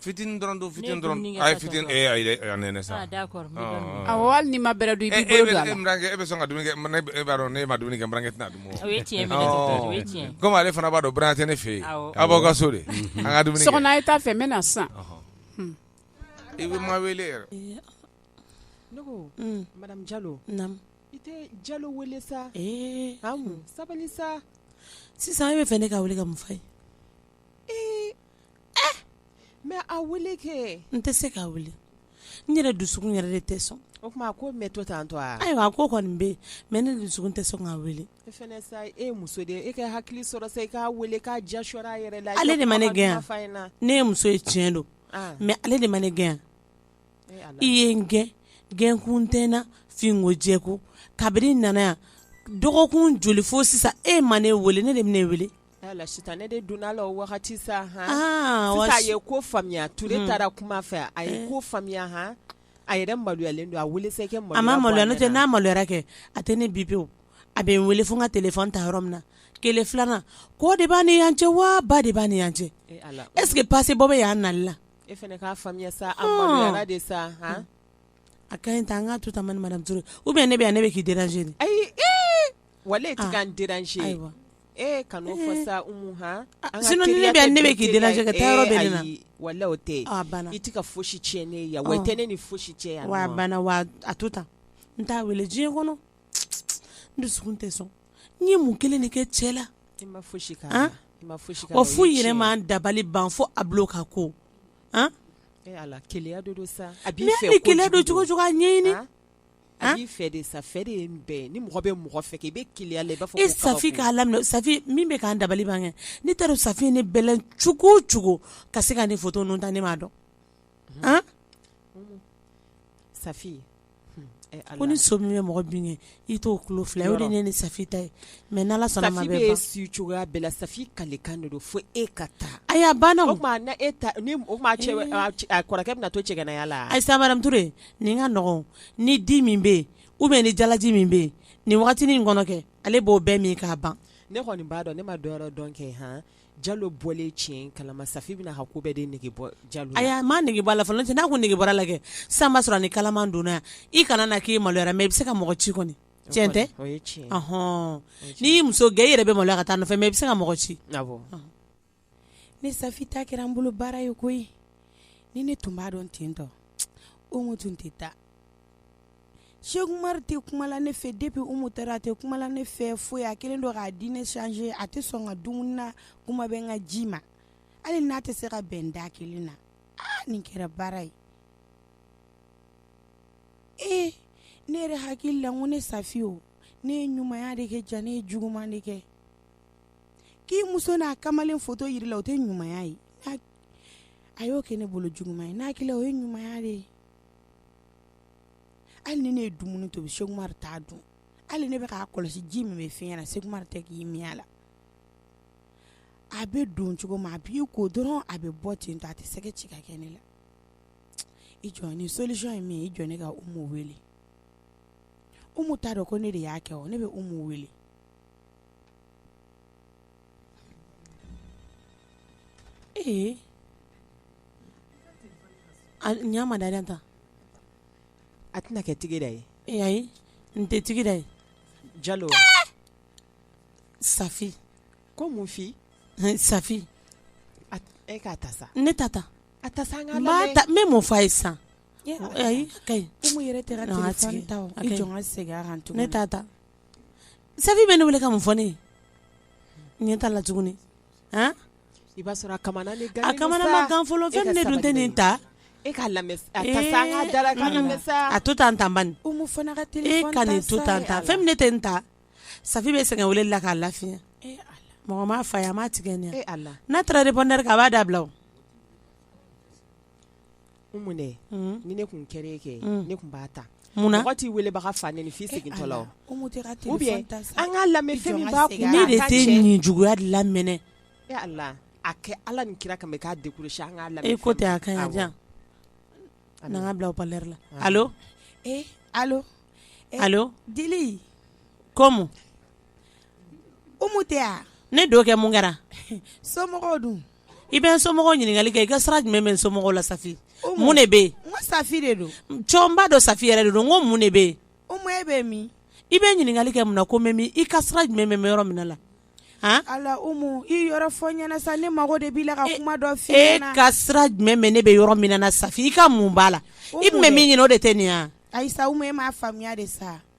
S10: fitinin dɔrɔn
S8: don fitinin dɔrɔn a ye fitinin ee ayi dɛ a nɛnɛ
S10: sa awɔ hali
S11: n'i ma bɛrɛ dun i b'i bolo don a la n burankɛ e bɛ sɔn ka dumuni kɛ
S8: mana e b'a dɔn n'e ma dumuni kɛ n burankɛ tɛna dun o ye tiɲɛ minɛ o ye tiɲɛ
S10: komi ale fana b'a dɔn buran tɛ
S8: ne fɛ yen a b'aw ka so de an ka dumuni kɛ Sokona a ye taa fɛ n bɛ
S11: na
S8: sisan i bɛ ma wele
S2: yɛrɛ ne ko madame Jalo naamu i tɛ Jalo wele sa ee sabali sa sisan e bɛ
S1: fɛ ne k'a wele ka mun f'a ye ee
S2: Mɛ a n tɛ se k'a
S1: wele n yɛrɛ dusukun yɛrɛ de tɛ sɔn o tuma ko mɛ
S2: to tan to ayiwa a ko kɔni bɛ
S1: mɛ ne dusukun tɛ sɔn k'a wele e
S2: ye muso de e ka hakili sɔrɔ sa i k'a weele k'a ja yɛrɛ la ale de ma ne
S1: gɛn ne ye muso ye tiɲɛ don mɛ ale de ma ne gɛn i ye n gɛn gɛnkun tɛ n na finko jɛko kabini n nana yan dɔgɔkun joli fo sisan e ma ne weele ne de bɛna weele Ala sisan ne
S2: de donna a la o wagati sa a ye ko faamuya Ture taara kuma fɛ a ye ko faamuya h a yɛrɛ maloyalen don a weele a ma maloya n'o tɛ n'a maloyara
S1: kɛ a tɛ ne bi pewu a bɛ n weele fo n ka telefɔni ta yɔrɔ min na kelen filanan kɔ de b'a ni yan cɛ wa ba de b'a ni yan cɛ eseke pasepɔri bɛ yan nali la e fana k'a
S2: faamuya sa a maloyara de sa a
S1: ka ɲi tan an k'a to tan madame Ture ou bien ne bɛ yan ne bɛ k'i deranze ayi
S2: wa
S1: e tɛ ka n deranze ee kan'o fɔ sa wala o tɛ
S2: i tɛ ka foyisi tiɲɛ ne ye wa tɛ ne ni foyisi tiɲɛ yan
S1: wa
S2: banna
S1: wa
S2: a
S1: to tan n t'a weele diɲɛ kɔnɔ n dusukun tɛ sɔn n ye mun kelen de kɛ cɛ la i
S2: ma foyisi kɛ wa
S1: foyi yɛrɛ ma n dabali ban fo a bila ka ko
S2: keleya don cogo
S1: cogo ɲɛɲini A
S2: b'i fɛ de sa, fɛ de ye nin bɛɛ ye, ni mɔgɔ bɛ mɔgɔ fɛ kɛ, i bɛ keleya a la, i b'a fɔ ko kabako, e Safi k'a
S1: laminɛ, Safi min bɛ k'an dabali ban kɛ, ne t'a dɔn Safi ye ne bɛlɛn cogo o cogo ka se ka ne photo ninnu ta ne m'a dɔn, an, un,
S2: Safi,
S1: hun, e Ala, ko ni so min bɛ mɔgɔ bin kɛ, i t'o tulo fila ye, o de ye ne ni Safi ta ye mais n'Ala sɔnna a ma a bɛ ban, Safi bɛ si cogoya
S2: bɛɛ la, Safi kalekan de don fo e ka taa, ayi a banna o, o tuma
S1: na e ta,
S2: o tuma a cɛ, a kɔrɔkɛ bɛna to cɛganaya la wa, ayi sa madame Ture
S1: Nin ka nɔnɔ ni di min bɛ yen ou bien ni jalaji min bɛ yen nin wagati nin kɔnɔ kɛ ale b'o bɛɛ min k'a ban ne kɔni b'a dɔn ne ma
S2: dɔn dɔn kɛ h jalo bɔlen tiɲɛ kalama safi bɛna ko bɛɛ de nege bɔ jalo la a ma nege bɔ a la fɔlɔ
S1: n'a ko nege bɔra a la kɛ san b'a sɔrɔ ni kalaman donna yan i kana na k'i maloyara mais i bɛ se ka mɔgɔ ci kɔni tiɲɛ tɛ tiɲɛ hɔn
S2: n'i
S1: y'i muso gɛn i yɛrɛ bɛ maloya ka taa a nɔfɛ mais i bɛ se ka mɔgɔ ci
S6: ne safi ta kɛra n bolo baara ye koyi ni ne tun b'a dɔn ten tɔ umu tun tɛ taa Cheikh Umar tɛ kuma la ne fɛ depuis umu taara a tɛ kuma la ne fɛ fo a kɛlen don k'a diinɛ changer a tɛ sɔn n ka dumuni na kuma tɛ n ka ji ma hali n'a tɛ se ka bɛn da kelen na nin kɛra baara ye ee ne yɛrɛ hakili la ko ne safi o ne ye ɲumanya de kɛ jaa ne ye juguman de kɛ k'i muso n'a kamalen foto yira i la o tɛ ɲumanya ye a y'o kɛ ne bolo juguman ye n'a hakili la o ye ɲumanya de ye hali ni ne ye dumuni tobi Cheikh Umar t'a dun hali ne bɛ k'a kɔlɔsi ji min bɛ fiɲɛ na Cheikh Umar tɛ k'i min a la a bɛ don cogo min a b'i ko dɔrɔn a bɛ bɔ ten tɔ a tɛ sɛgɛ ci ka kɛ ne la i jɔ ni solution ye min ye i jɔ ne ka umu wele umu t'a dɔn ko ne de y'a kɛ o ne bɛ umu wele
S1: Ee ɲa ma da da tan
S2: a tɛna kɛ tigi da ye ee
S1: n tɛ tigi da ye jalo safi ko
S2: mun fi safi e k'a ta sa ne t'a ta
S1: a ta sa n
S2: bɛ mun fɔ a ye sisan
S1: ka
S6: segin ne t'a ta
S1: Safi bɛ ne wele ka mun fɔ ne ye? N ɲɛ t'a la tuguni,
S2: an, i b'a sɔrɔ a kamana de gannen don sa, a kamana ma gan
S1: fɔlɔ,
S2: fɛn
S1: min ne dun tɛ nin ta, e k'a lamɛn sa,
S2: ee, a ta sa, an k'a dalakan lamɛn sa, a to tan tan
S1: bani, Umu fana ka telephone
S6: ta sa, e ka nin to tan tan,
S1: fɛn min ne tɛ nin ta, Safi bɛ sɛgɛn weleli la k'a lafiya, ee Ala, mɔgɔ m'a fɔ a ye, a m'a tigɛ nin ye wa, ee Ala, n'a taara repondeur kɛ a b'a dabila o
S2: Umu dɛ unn ni ne kun kɛr'e ye kɛ unn ne kun b'a ta munna mɔgɔ t'i
S1: weelebaga
S2: fa nɛni f'i segintɔla o e Ala Umu tɛ ka téléphone ou bien
S6: an k'a lamɛ fɛn min b'a
S2: kun ne de tɛ nin
S1: juguya de lamɛnna e Ala
S2: a kɛ Ala ni kira kama i k'a décrocher an ŋ'a lamɛ e ko tɛ a ka ɲi a di
S1: yan awɔ n'an ŋ'a bila haut parleur la allo ee
S6: allo e
S1: allo Dili
S6: comme Umu tɛ wa ne don kɛ mun kɛra
S1: somɔgɔw dun
S6: i bɛ
S1: somɔgɔw ɲininkali kɛ i ka sira jumɛn bɛ somɔgɔw la Safi mun de bɛ yen n ko Safi de
S6: don n b'a dɔn Safi yɛrɛ
S1: de don n ko mun de bɛ yen Umu e bɛ min
S6: i bɛ ɲininkali kɛ
S1: mun na ko n bɛ min i ka sira jumɛn bɛ yɔrɔ min na
S6: Ala Umu i yɔrɔ fɔ n ɲɛna sa ne mago de b'i la ka kuma dɔ f'i ɲɛna e ka
S1: sira
S6: jumɛn
S1: bɛ ne bɛ yɔrɔ min na Safi i ka mun b'a la i tun bɛ min ɲini o de tɛ nin ayi sa Umu e m'a
S6: faamuya de sa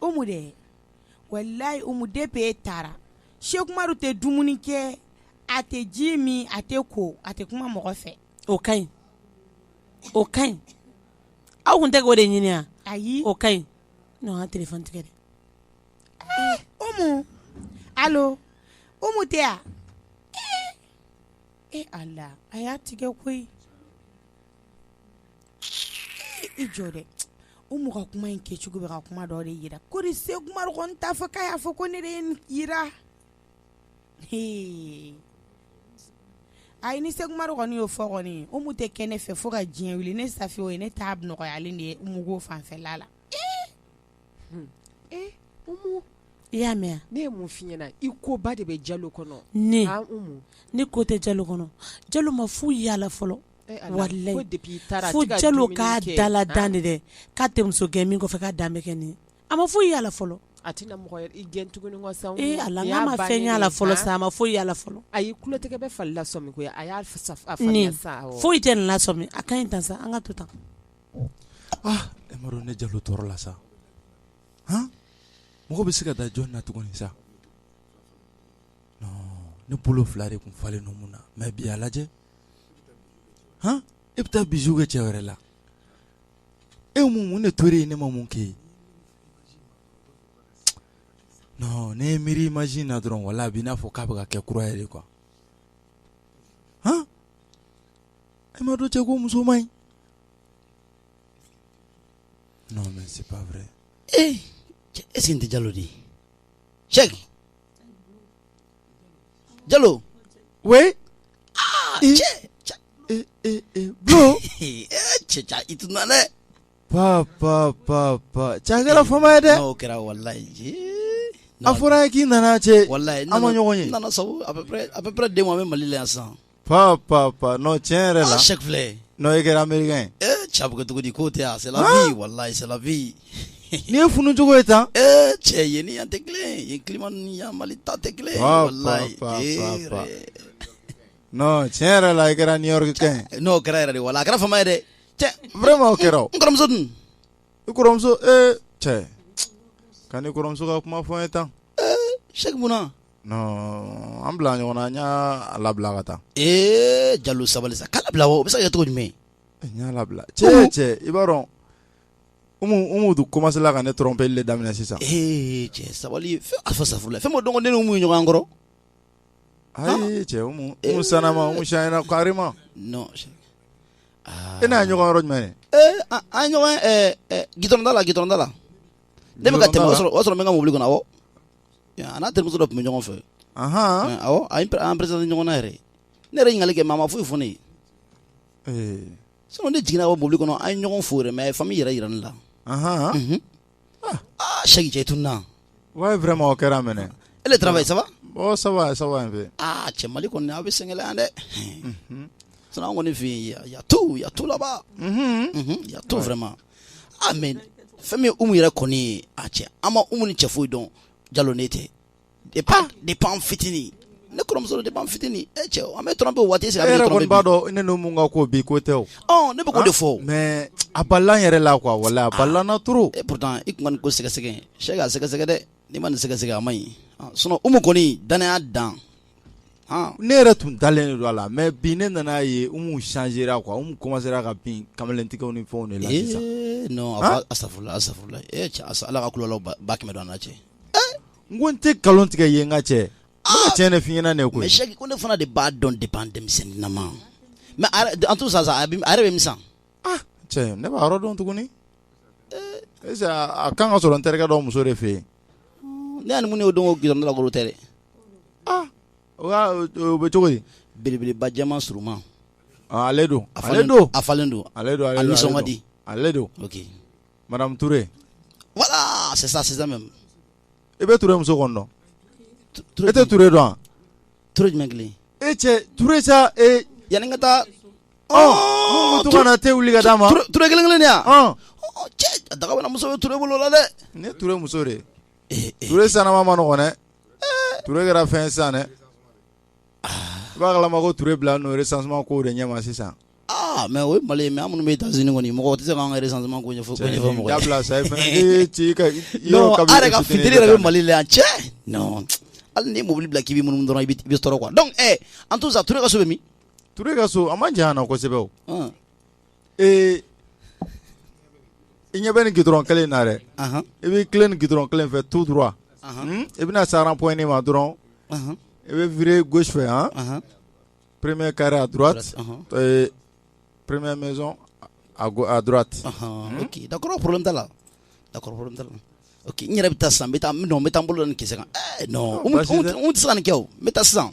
S6: Umu dɛ walayi Umu depuis e taara Cheick Umaru tɛ dumuni kɛ a tɛ ji min a tɛ ko a tɛ kuma mɔgɔ fɛ o ka ɲi
S1: o ka ɲi aw kun tɛ k'o de ɲini wa ayi o ka ɲi non kana téléphone tigɛ dɛ
S6: ee Umu allo Umu tɛ wa ee ee Ala a y'a tigɛ koyi i jɔ dɛ Umu ka kuma in kɛcogo bɛ ka kuma dɔ de yira ko ni Cheick Umaru kɔni t'a fɔ k'a y'a fɔ ko ne de ye nin yira hee ayi ni Cheick Umaru kɔni y'o fɔ kɔni Umu tɛ kɛ ne fɛ fo ka diɲɛ wuli ne Safi o ye ne ta nɔgɔyalen de ye Umu ko fanfɛla la
S1: i y'a mɛn ne ye mun f'i
S2: ɲɛna i koba de bɛ Jalo kɔnɔ
S1: ne ne ko tɛ Jalo kɔnɔ Jalo ma foyi y'a la fɔlɔ walayi fo Jalo k'a dala dan de dɛ k'a tɛ muso gɛn min kɔfɛ k'a dan bɛ kɛ nin a ma foyi y'a la fɔlɔ
S2: Ala
S1: a ma fɛn y'a la fɔlɔ sa a ma foyi y'a la fɔlɔ atɛkɛ bɛ
S2: falila a foyi tɛ nin la
S1: a ka ɲi tan sa an ka to tan
S5: ne Jalo tɔɔrɔla sa mɔgɔ bɛ se ka da jɔn na tuguni sa ne bolo fila de kun falen Umu na mais bi a lajɛ hɔn e bɛ taa bisou kɛ cɛ wɛrɛ la e mun ne to ye ne ma mun kɛ ne ye miiri imaginer dɔrɔn voilà a b'i n'a fɔ k'a bɛ ka kɛ kura yɛrɛ de quoi a m'a dɔn cɛ ko muso man ɲi ee
S12: est-ce que nin tɛ Jalo de ye Cheick Jalo we cɛ cɛ i tun dɛ pa
S5: pa pa pa cɛ a kɛra fama ye dɛ n'o kɛra walayi
S12: a
S5: fɔra n ye k'i nana cɛ walayi an ma ɲɔgɔn ye
S12: nana
S5: sabu à
S12: peu près n bɛ Mali la yan san Pap pap pap
S5: non tiɲɛ yɛrɛ la, aa sɛki filɛ, non e kɛra
S12: Americain
S5: ye, ee cɛ a bɛ kɛ cogo di
S12: k'o tɛ yan c'est la vie walahi c'est la vie nin ye funu
S5: cogo ye tan, ee cɛ yen ni yan
S12: tɛ kelen ye, yen climat ninnu ni yan Mali ta tɛ kelen ye, walahi ee yɛrɛ,
S5: non tiɲɛ yɛrɛ la i kɛra New York kɛ ye, ee n'o kɛra yɛrɛ de walahi a kɛra
S12: faama ye dɛ, cɛ vraiment
S5: o kɛra o, n kɔrɔmuso dun?
S12: i kɔrɔmuso
S5: ee cɛ, kan'i kɔrɔmuso ka kuma fɔ n ye tan, ee sɛki mun na An bila ɲɔgɔn na n y'a labila ka taa ee
S12: jalo sabali sa k'a labila o bɛ se ka kɛ cogo jumɛn n y'a labila
S5: cɛ cɛ i b'a dɔn Umu tun commencéla ka ne tromper le daminɛ sisan ee cɛ
S12: sabali a fɔ safurula fɛn m'o dɔn ko ne ni Umu bɛ ɲɔgɔn
S5: kɔrɔ ayi cɛ Umu sanama Umu changera carrément e n'a ɲɔgɔn yɔrɔ jumɛn an
S12: ɲɔgɔn gidɔrɔn da la gidɔrɔn da la Ne bɛ ka tɛmɛ o sɔrɔ n bɛ n ka mobili kɔnɔ awɔ a n'a terimuso dɔ tun bɛ ɲɔgɔn fɛ an présenté ɲɔgɔn na yɛrɛ ne yɛrɛ ɲininkali kɛ mais a ma foyi fɔ n ye sinon ne jiginna mobili kɔnɔ an ye ɲɔgɔn fo yɛrɛ mais famille yɛrɛ jira ne la sɛki cɛ i tun na vraiment
S5: o kɛra mɛn et le travail ça va
S12: ça va ça
S5: va un peu cɛ mali kɔni aw
S12: bɛ sɛgɛn yan dɛ sinon an kɔni fɛ yen y a tout là-bas y a tout vraiment a mais fɛn min umu yɛrɛ kɔni ye a cɛ an ma umu ni cɛ foyi dɔn jalo ne tɛ depuis ah! depuis fitinin ne kɔrɔmuso depuis fitinin e cɛ an bɛ tromper waati sera yɛrɛ kɔni b'a dɔn ne
S5: n'umu ka ko bi ko tɛ o ne bɛ k'o de fɔ
S12: mais a balala
S5: n yɛrɛ la quoi walahi a balala n na ah, trop e pourtant i kun kan k'o
S12: sɛgɛsɛgɛ sɛki a sɛgɛsɛgɛ dɛ n'i ma nin sɛgɛsɛgɛ a man ɲi ah, sinon umu kɔni danaya dan
S5: ne yɛrɛ tun dalen don a la mais bi ne nana a ye Umu changera quoi Umu commencéra ka bin kamalentigɛw ni fɛnw de
S12: la sisan ala ka kulala ba kɛmɛ don an n'a cɛ n ko
S5: n tɛ nkalon tigɛ i ye n ka cɛ n bɛ tiɲɛ de f'i ɲɛna ne ko ko ne fana de b'a
S12: dɔn depuis an denmisɛnnin ma mais en tout cas a yɛrɛ bɛ mi cɛ
S5: ne b'a yɔrɔ dɔn tuguni est-ce a kan ka sɔrɔ n terikɛ dɔ muso de fɛ yen ne y'a ni min
S12: ye o don gidɔrɔn da la k'o tɛ dɛ
S5: o bɛ cogo di belebeleba
S12: jɛman surunman ale
S5: don a ale don a
S12: falen don ale don a nisɔn ka di ale don Madame
S5: ture voilà
S12: c'est ça c'est ça i bɛ
S5: ture muso kɔni dɔn e tɛ ture dɔn wa ture jumɛn
S12: kelen e cɛ ture
S5: sa yanni n ka taa min to ka na te wuli ka d'an ma ture kelen kelen
S12: yan cɛ daga muso bɛ ture bolo la dɛ ne ture muso de
S5: ture sanama ma nɔgɔ dɛ ture kɛra fɛn san dɛ Kama ko tile bila n'ore san ko de ɲɛ sisan mɛ o
S12: mali mɛ minnu bɛ taa z kɔni mɔgɔ tɛ se k'an yɛrɛ sanma ko ɲɛfɔ
S5: bɛ
S12: mali la yan cɛ hali ni mobili bila k'ibi minnu dɔrɔn i bɛ sɔrɔ kuwa dɔn an t' sa ture ka so min ka so a
S5: ma jan kosɛbɛ ee i ɲɛ bɛ ni g dɔrɔn kelen na dɛ i b'i tilen ni g dɔrɔn kelen fɛ tu dɔrɔn i bɛna sara p ne ma dɔrɔn i bɛ v gosi fɛ yan peree kari a peree mɛnz a dti da
S12: porolenla la da n yɛrɛ bɛ taa san bɛ taa bɛ taa bolo ni ki n tɛ san ni kɛ n bɛ taa san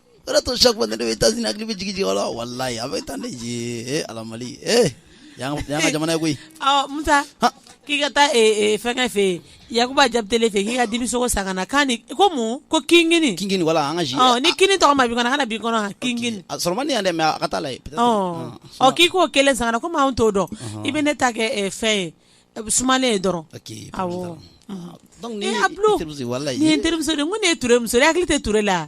S12: o de to chaque fois ne États-Unis hakili bɛ jigin jigin la walayi a bɛ taa ne ye ee ala mali ee yan ka jamana ye koyi ɔ
S1: musa k'i ka taa fɛnkɛ fɛ yen yakuba jabitele fɛ k'i ka dibisogo san ka na k'a ni ko mun ko kinkini kinkini wala an ka ji ɔ
S12: ni kini tɔgɔ ma bi
S1: kɔnɔ kana bi kɔnɔ kinkini a sɔrɔ man di yan dɛ mais
S12: a ka taa la ye ɔ
S1: k'i k'o kelen san ka na komi anw t'o dɔn i bɛ ne ta kɛ fɛn ye sumalen ye dɔrɔn awɔ donc nin ye n terimuso ye walayi nin ye n terimuso de ye n ko nin ye ture muso ye hakili tɛ ture la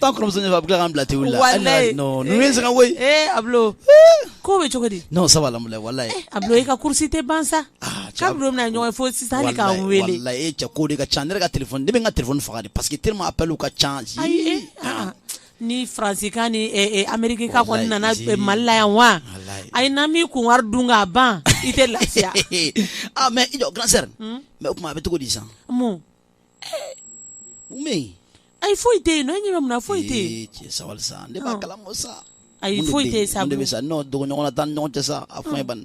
S12: Tan kɔrɔmuso ɲɛ bɛ ka bila tɛwu la n se ka koyi
S1: Ablo ko bɛ cogo di non ça va
S12: walayi Ablo i ka kurusi tɛ
S1: ban sa kabi don min na an ye ɲɔgɔn ye fo sisan hali ka n wele walayi cɛ ko de ka ca
S12: ne ka téléphone ne bɛ n ka téléphone faga parce que tellement appel ka ca
S1: ni Faransika ni Amerikika kɔni nana Mali la yan walayi n'a m'i kun wari dun ka ban i tɛ lafiya mais i
S12: jɔ grand sœur mais o tuma a bɛ cogo di sisan
S1: ayi foyi tɛ e ɲɛ bɛ mun na foyi tɛ sabali sa ne
S12: b'a kalama sa ayi foyi tɛ sa
S1: sa non dogo
S12: ɲɔgɔn na taa ɲɔgɔn tɛ sa a fɔ ban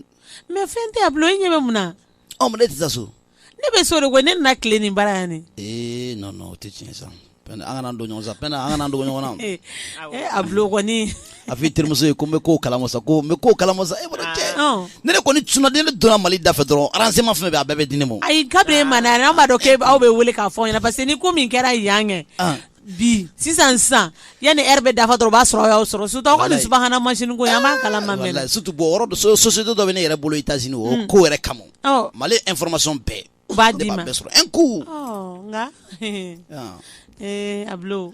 S12: mais fɛn tɛ Ablo
S1: e ɲɛ bɛ mun na mais ne tɛ taa
S12: so ne bɛ so de ko
S1: ne nana tilen nin bara yan ee non o tɛ tiɲɛ
S12: sa an kana dogo ɲɔgɔn na sa an kana dogo ɲɔgɔn na Ablo kɔni
S1: a fɔ i terimuso
S12: ye ko n bɛ ko kalama sa ko n bɛ ko kalama sa e bolo cɛ Ɔn. ne de kɔni tuna ne donna mali da fɛ dɔrɔn renseignement fɛn bɛɛ a bɛɛ bɛ di ne ma o. ayi kabiri e ma na
S1: an b'a dɔn k'e aw bɛ wele k'a fɔ aw ɲɛna parce que ni ko min kɛra yan kɛ Ah. bi sisan sisan yanni heure bɛ dafa dɔrɔn o b'a sɔrɔ aw y'a sɔrɔ surtout aw ka nin Walayi. subahana mansin ko in an b'a kalama mɛ Walayi, surtout bon yɔrɔ dɔ
S12: so- société dɔ bɛ ne yɛrɛ bolo États-Unis o ko yɛrɛ kama Ɔ. mali information bɛɛ u b'a ne d'i b'a ma bɛɛ sɔrɔ
S1: un coup
S12: Ɔ, nka
S1: Ah. ee Ablo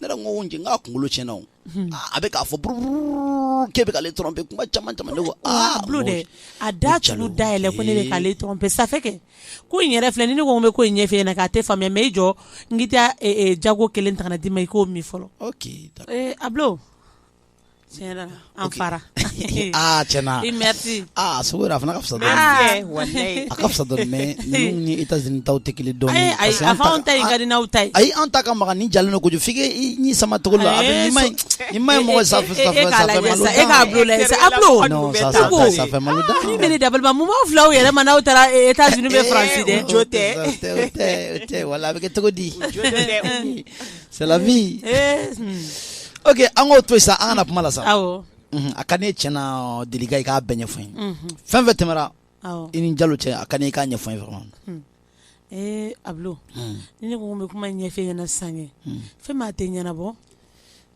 S12: ne yɛrɛ ko n cɛ k'a kunkolo tiɲɛna o a bɛ k'a fɔ bururu k'e bɛ k'ale tromper kuma caman caman ne ko Ablo dɛ
S1: a da tugu da yɛlɛ ko ne bɛ k'ale tromper ça fait que ko in yɛrɛ filɛ ni ne ko n bɛ ko in ɲɛf'e ɲɛna kɛ a tɛ faamuya mais i jɔ n k'i taa jago kelen ta ka na d'i ma i k'o min fɔlɔ ok d'accord ee Ablo Tiɲɛ an
S12: fara
S1: tiɲɛna a sogo a fana
S12: ka fisa
S2: a ka
S12: fisa ni États-Unis ta tɛ kelen dɔɔni ayi an ta ka
S1: di n'aw ta ye ayi an ta ka magan nin
S12: jalen don kojugu f'i k'i sama cogo la a man ɲi
S1: mɔgɔ
S12: sa e da balima mun
S1: b'aw fila yɛrɛ ma n'aw taara États-Unis bɛ faransi dɛ
S2: tɛ
S12: wala a bɛ kɛ cogo di C'est la vie ok an k'o to yen sa an kana kuma la sa a ka ne tiɲɛna Delika i k'a bɛɛ ɲɛfɔ n ye fɛn fɛn tɛmɛra i ni Jalo cɛ a ka ne i k'a ɲɛfɔ n ye vraiment
S1: Ablo ni ne ko n bɛ kuma ɲɛfɛ ɲɛna sisan fɛn min a tɛ ɲɛnabɔ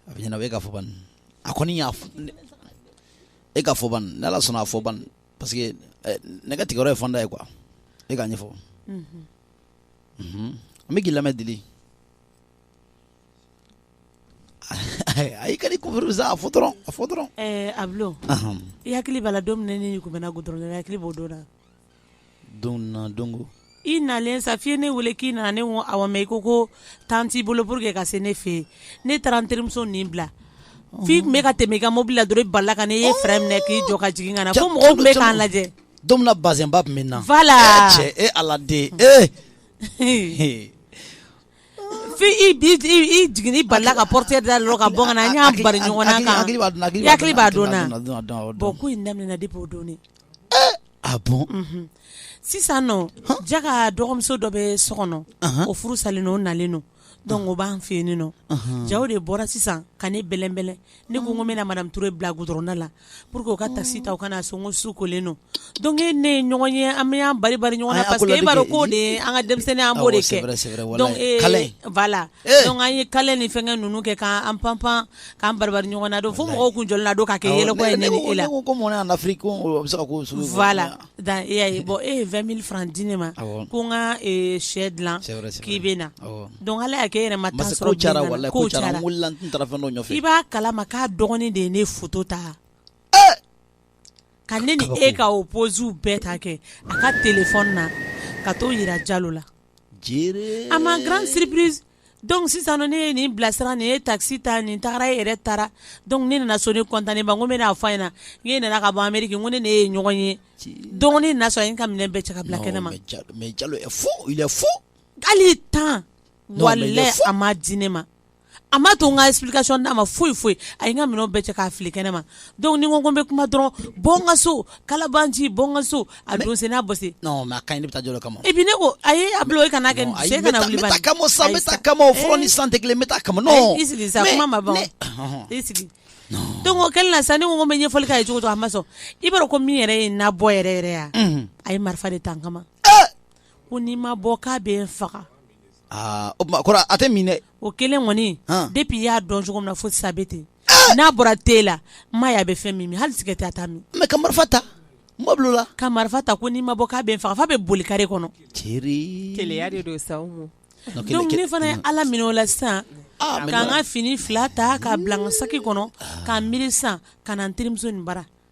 S1: a bɛ
S12: ɲɛnabɔ e k'a fɔ ban a kɔni y'a e k'a fɔ ban ni ala sɔnna a fɔ ban parce que ne ka tigɛyɔrɔ ye fanda ye quoi e k'a ɲɛfɔ an bɛ k'i lamɛn Deli A ka di a a fɔ dɔrɔn Ablo
S1: i hakili b'a la don min ne tun bɛ goudron na hakili b'o don la donc i
S12: nalen sa
S1: f'i ye ne weele k'i nana ne ko awɔ mais i ko ko temps t'i bolo pour que ka se ne fɛ yen ne taara n terimuso nin bila f'i tun bɛ ka tɛmɛ i ka mobili la dɔrɔn i balala ka ne ye frein minɛ k'i jɔ ka jigin ka na fo mɔgɔw tun bɛ k'an lajɛ don min bazɛnba
S12: tun bɛ n na voilà cɛ e
S1: ala den
S12: ee
S1: jigin ba la ka pte da la ka bamanan b'a daminɛ de b'o don a
S12: sisan
S1: ja ka dɔgɔmuso dɔ bɛ so kɔnɔ o furu salen o nalen don Donc o b'an fɛ yen nɔ jaa o de bɔra sisan ka ne bɛlɛnbɛlɛn ne ko n ko n bɛna Mato bila goudron da la pour que o ka taxi ta ka na so n ko su kolen don donc e ni ne ye ɲɔgɔn ye an bɛ an bari ɲɔgɔn na parce que e b'a dɔn k'o de ye an ka denmisɛnnin an b'o de kɛ voilà an ye câlin ni fɛn ninnu kɛ k'an panpan k'an bari ɲɔgɔn na don fo mɔgɔw tun jɔlen don ka kɛ yɛlɛ la
S12: Dan
S1: e y'a ye bon e ye vingt mille francs di ne ma ko n ka shɛ dilan k'i bɛ na donc Ala y'a kɛ e yɛrɛ ma
S12: temps sɔrɔ i
S1: b'a kala ma k'a dɔgɔnin de ye ne photo ta ka ne ni e ka o posew bɛɛ ta kɛ a ka téléphone na ka t'o jira Jalo la à ma grande surprise donc sisan ne ye nin bilasira nin ye taxi ta nin tagara e yɛrɛ taara donc ne nana so ne content ba n ko n bɛna fɔ a ɲɛna n k'e nana ka bɔ Amérique n ko ne n'e ye ɲɔgɔn ye donc ne nana sɔrɔ a ye n ka minɛn bɛɛ cɛ ka bila kɛnɛma mais Jalo est
S12: fou il est fou
S1: hali temps walahi a ma di ne ma a ma to n ka explication d'a ma foyi foyi a ye n ka minɛnw bɛɛ cɛ k'a fili kɛnɛma donc ni n ko n bɛ kuma dɔrɔn bɔ n ka so kalabanci bɔ n ka so A don sen n'a bɔ sen non mais a kaɲi ne bɛ taa Jalo
S12: kama et puis ne ko ayi
S1: Ablo e kana kɛ nin ye kana wuli bani ayi n bɛ taa a kama o sa n bɛ taa
S12: a kama o fɔlɔ ni sisan tɛ kelen n bɛ taa a kama o non i sigi sa kuma ma ban
S1: o i sigi donc o kɛlen na sisan ne ko n ko n bɛ ɲɛfɔli k'a ye cogo cogo a ma sɔn i b'a dɔn ko min yɛrɛ ye n nabɔ yɛrɛ yɛrɛ ye a a ye marifa de ta n kama ko n'i ma bɔ k'a bɛ n faga Aa o
S12: tuma kɔrɔ a tɛ min dɛ o kelen
S1: kɔni depuis i y'a dɔn cogo min na fo sisan a bɛ ten n'a bɔra te la n m'a ye a bɛ fɛn min min hali sigarɛti a t'a min mais ka marifa ta
S12: mɔbili la ka marifa ta ko n'i ma
S1: bɔ k'a bɛ n faga f'a bɛ boli kare
S2: kɔnɔ keleya de don sa ne
S1: fana ye Ala minɛ o la sisan ka n ka fini fila ta k'a bila n ka saki kɔnɔ ka n miiri san ka na n terimuso bara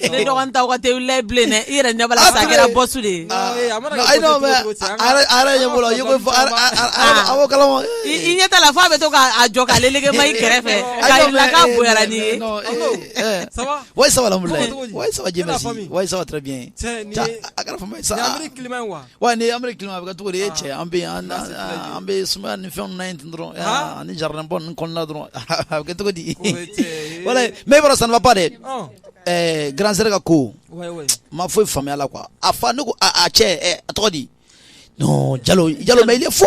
S12: ne
S1: dɔgɔnin t'aw ka te wuli la bilen dɛ i yɛrɛ ɲɛ b'a la sisan a kɛra boss
S12: de ye i ɲɛ t'a la f'a
S1: bɛ to k'a jɔ k'a leleke ma i kɛrɛfɛ k'a yira i la k'a bonyara
S12: n'i ye ouais ça va ça va Wa ni an bɛ ki bɛ cogo ye cɛ an bɛ an bɛ suma ni fɛn in dɔrɔn ani jaraɛn bɔ ni kɔnɔnana dɔrɔn a bɛ kɛ cogo di mɛ bɔra sanbaba dɛ garanransɛ ka ko ma foyi faamuyaya la qu a fa ne ko cɛ a tɔgɔ di jalo i fo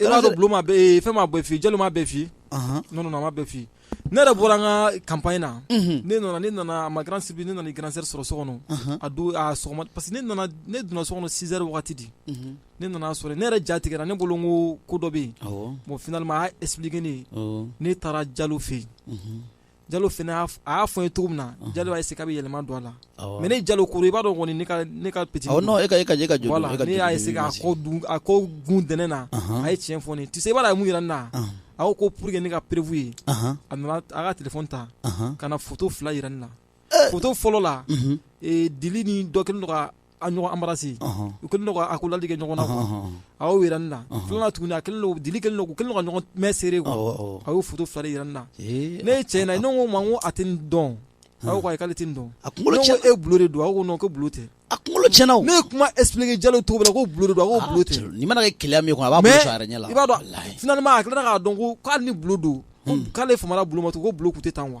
S3: I b'a dɔn Bulo m'a bɛɛ, fɛn m'a bɛɛ f'i ye, Jalo m'a bɛɛ f'i ye, anhan, non non a m'a bɛɛ f'i ye, ne yɛrɛ bɔra an ka campagne na, unhun, ne nana ne nana à ma grande surprise ne nana i grand sœur sɔrɔ so kɔnɔ, anhan, a don a sɔgɔma parce que ne nana ne donna so kɔnɔ six heures waati de, unhun, ne nana a sɔrɔ yen, ne yɛrɛ ja tigɛra ne bolo n ko ko dɔ bɛ yen, awɔ, bon finalement a y'a expliquer ne ye, awɔ, ne taara Jalo fɛ yen, unhun, Jalo fana y'a f a y'a fɔ n ye cogo min na unhun Jalo y'a essayer k'a bɛ yɛlɛma don a la awɔ mais ne Jalo kɔrɔ i b'a dɔn kɔni ne ka ne ka petini awɔ non e ka e ka j e ka joli
S12: voilà e ka ne y'a essayer k'a
S3: kɔ dun a kɔ gun dɛnɛ na anhan a ye tiɲɛ fɔ ne ye tu sais i b'a dɔn a ye mun yira ne na a ɔnhɔn a ko ko pour que ne ka preuve ye anhan a nana a ka téléphone ta anhan ka na photo 2 yira ne na ee photo fɔlɔ la unhun ee Dili ni dɔ kɛlen don ka a ɲɔgɔn embrasser u kɛlen don ka accolade kɛ ɲɔgɔn na a y'o jira ne na filanan tuguni a kɛlen don dili kɛlen don u kɛlen don ka ɲɔgɔn main serrer quoi a y'o photo fila de jira ne na ne ye cɛ in na ne ko n ma ko a tɛ nin dɔn a ko ayi k'ale tɛ nin dɔn a kunkolo cɛna ne ko e Bulo de don a ko non ko Bulo tɛ a kunkolo cɛna o ne
S12: ye kuma
S3: expliquer Jalo cogo min na ko Bulo de don a ko Bulo tɛ nin mana kɛ keleya min ye kɔni a b'a
S12: bolo mais sɔn a yɛrɛ ɲɛ la i b'a dɔn walahi finalement
S3: a tilala k'a dɔn ko ko hali ni Bulo don ko k'ale famana Bulo ma tugun ko Bulo tun tɛ tan quoi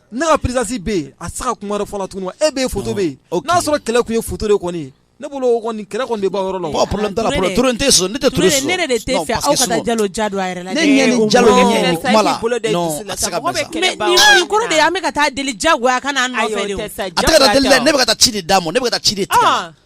S3: Ne ka présence bɛ yen a tɛ se ka kuma wɛrɛ fɔ la tugun wa e bɛ yen photo bɛ yen n'a sɔrɔ kɛlɛ kun ye photo de kɔni ne bolo kɔni kɛlɛ kɔni bɛ ban yɔrɔ la ne de
S12: an bɛ
S1: ka taa deli ja
S12: ne ci d'a ma ne ci de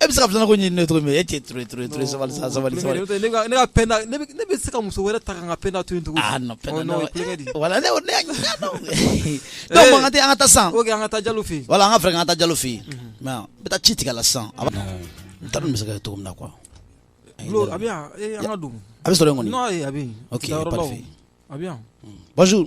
S12: e bɛ se ka filanan ko ɲini ne to e tɛ ture sabali
S3: sabali ne bɛ se ka muso wɛrɛ ta ka penda
S12: to tugun wala tɛ an ka taa san ok an ka taa jalo fɛ wala
S3: an ka fɛ an ka taa jalo
S12: fɛ yen n bɛ taa ci tigɛ la san n t'a dɔn n bɛ se ka kɛ cogo min na
S3: quoi a bɛ a bɛ sɔrɔ
S12: yen kɔni a bɛ
S3: bonjour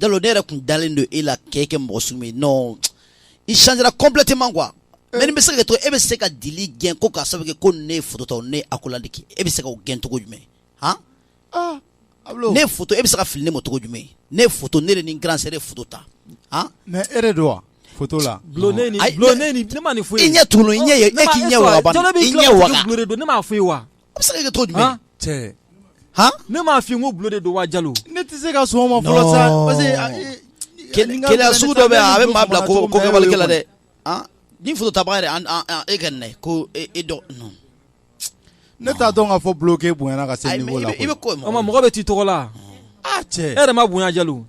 S12: jalo ne yɛrɛ kun dalen don e la k'e kɛ mɔgɔ sugu min non i changera complètement quoi eh. mais nin bɛ se ka to e bɛ se ka dili gɛn ko k'a sababu kɛ ko ne ye foto ta ne ye accolade kɛ e bɛ se ka o gɛn cogo jumɛn han ah, ne foto e bɛ se ka fili ne ma cogo jumɛn ne ye foto ne de ni grand sœur ye foto ta han mais e de don
S5: wa foto la bulo ne ni bulo ne
S3: ni ne ma nin foyi i ɲɛ tunu i ɲɛ ye e
S12: k'i ɲɛ waga ban i ɲɛ waga ne m'a fɔ i ye wa
S3: A bɛ se ka kɛ cogo
S12: jumɛn
S5: cɛ han
S12: ne m'a fɔ ko bulo
S3: de don wa jalo ne tɛ se ka sɔn o
S5: ma fɔlɔ sa parce que keleya sugu dɔ bɛ
S12: yan a bɛ maa bila ko ko kɛwalikɛla dɛ ni foto ta yɛrɛ e ka ko e dɔn
S5: ne t'a dɔn k'a fɔ bulonke bonyana ka se mɔgɔ bɛ
S12: t'i tɔgɔ
S3: la cɛ e yɛrɛ ma bonya jalo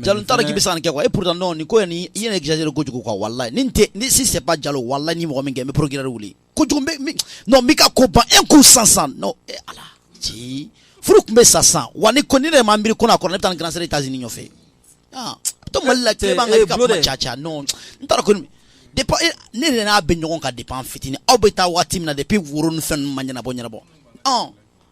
S3: jalo t'a dɔn k'i
S12: bɛ se ka nin kɛ et pourtant nin ko i ye exagérer kojugu quoi walayi ni tɛ ni si c'est pas jalo walayi ni mɔgɔ min kɛ n bɛ procureur wuli kojugu non n b'i ka ko ban un coup san san non e ala ci furu tun bɛ sa san wa nin ko nin ne ma miiri ko n'a kɛra ne bɛ taa n grand sœur États-Unis nɔfɛ ah to mali la tile b'an kan ka kuma ca ca non n t'a dɔn ko depuis e, ne de n'a bɛ ɲɔgɔn kan depuis an fitinin aw bɛ taa waati min na depuis woro ni fɛn ninnu ma ɲɛnabɔ ɲɛnabɔ ɔn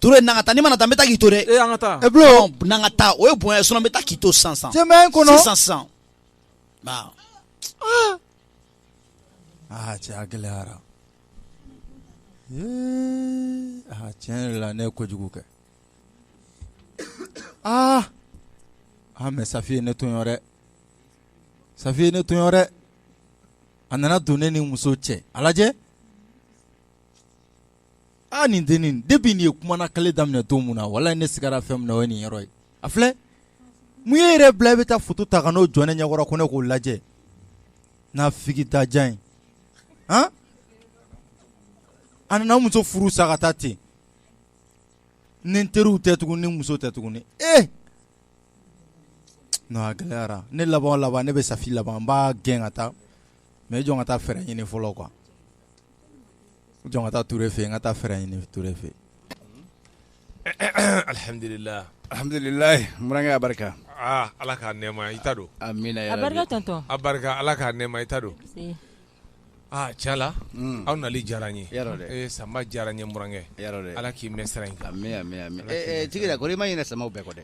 S5: ture n'an ka taa n'i ma na taa n bɛ taa
S12: k'i to
S3: dɛ n'an ka
S5: taa o
S12: ye bonya ye sinon n bɛ taa k'i to san san kɔnɔ
S5: san san aa cɛ a gɛlɛyara aa tiɲɛ yɛrɛ la ne ye kojugu kɛ aa aa mais safi ye ne tɔɲɔ dɛ safi ye ne tɔɲɔ dɛ a nana don ne ni n muso cɛ a lajɛ aa nin dennin depuis nin ye kumana kale daminɛ don min na walayi ne sigara fɛn min na o ye nin yɔrɔ ye a filɛ mun ye yɛrɛ bila i bɛ taa foto ta ka n'o jɔ ne ɲɛkɔrɔ ko ne k'o lajɛ n'a fili ta diya ye hɔn a nana muso furu sa ka taa ten ni n teriw tɛ tugun ni muso tɛ tuguni ee a gɛlɛyara ne laban laban ne bɛ safi laban n b'a gɛn ka taa mais jɔ n ka taa fɛɛrɛ ɲini fɔlɔ quoi jɔ n ka taa Ture fɛ yen, n ka taa fɛɛrɛ ɲini Ture fɛ
S8: yen. Alhamdulila, alhamdulilayi n
S9: burankɛ a barika, aa Ala k'a nɛɛma
S8: i ta don, amina yarabi, a barika
S9: tonton,
S10: a barika Ala
S8: k'a nɛɛma i ta don, si, aa tiɲɛ la, un, aw nali diyara an ye, yarɔ dɛ, ee Sanba diyara n ye n burankɛ, yarɔ dɛ, Ala k'i mɛn sira in kan, amin amin amin, ee
S9: Tigida kɔri i ma ɲinɛ Sanba bɛɛ kɔ dɛ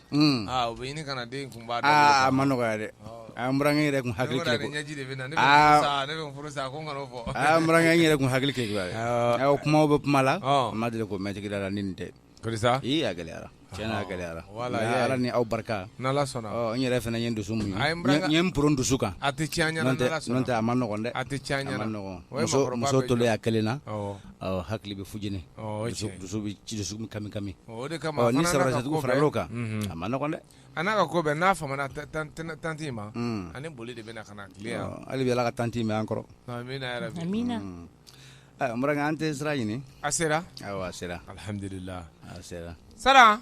S8: u bɛ ɲini ka na den kun ma nɔgɔya
S9: dɛ a n burankɛ yɛrɛ
S8: kun hakili yɛrɛ kun hakili
S9: kɛ o kumaw bɛ kuma la ma deli k'o mɛn tigida la nin tɛ gɛlɛyara tiɲɛ na gɛlɛyara ala ni aw barika
S8: n yɛrɛ fana ye
S9: dusu muɲu n ye n pɔrɔn dusu kan a
S8: tɛ a ma nɔgɔn dɛ a tɛ
S9: muso tolen a kelen na awɔ, hakili bɛ fujini, ɔ o ye tiɲɛ ye, dusu bɛ ci dusukun kami kami, ɔ o de kama, ɔ ni
S8: sɔrɔdasidugu farala o
S9: kan, unhun, a ma nɔgɔn dɛ, a n'a ka ko bɛɛ n'a
S8: famana tan tan tante in ma, un, ani boli de bɛna ka na tile yan, ɔ hali bi Ala ka tante in mɛn an
S9: kɔrɔ, amina yarabi,
S8: Amina.
S10: un, ɛ n
S9: burankɛ an tɛ sira ɲini, a sera, awɔ
S8: a sera,
S9: alihamudulila,
S8: a sera.
S9: Sara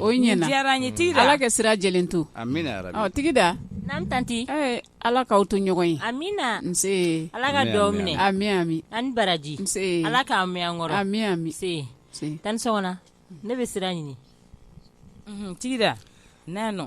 S11: o diyara n ye tigida ala
S10: ka sira jɛlen
S11: to
S9: tigida
S11: naamu
S10: tanti ala k'aw to
S11: ɲɔgɔn ye amina nse
S10: ala ka
S11: duwawu minɛ
S10: amina ami a
S11: ni
S10: baraji ala k'a
S11: mɛn an kɔrɔ
S10: ami tanti sɔgɔna ne bɛ sira ɲini
S7: tigida n' nɔ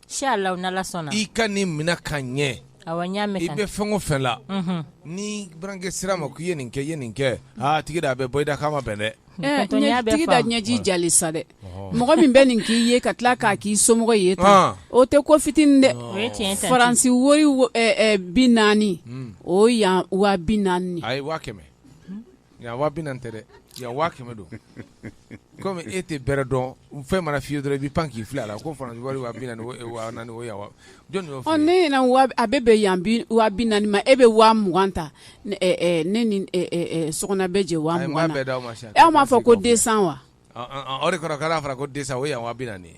S10: i ka nin minɛ
S8: ka ɲɛ i
S10: bɛ fɛn o fɛn
S8: la ni burankɛ sira ma ko i ye nin kɛ ye nin kɛ tigida a bɛ bɔ i da k'a ma bɛn dɛ tigida
S11: ɲɛji jali sa dɛ mɔgɔ min bɛ nin k'i ye ka tila k'a k'i somɔgɔ ye tan o tɛ ko fitinin dɛ faransi wari bi naani o yan waa bi naani
S8: Nka wa bɛ tɛ dɛ yan waa kɛmɛ don komi e tɛ bɛrɛ dɔn fɛn mana fiye dɔrɔn i bɛ pan k'i fili a la ko fana wari a bɛ bɛ
S11: yan naani ma e bɛ waa mugan ta ne so bɛ jɛ wa bɛɛ' ma e m'a fɔ ko den wa o de
S8: kɛra fara ko disa o yan wa naani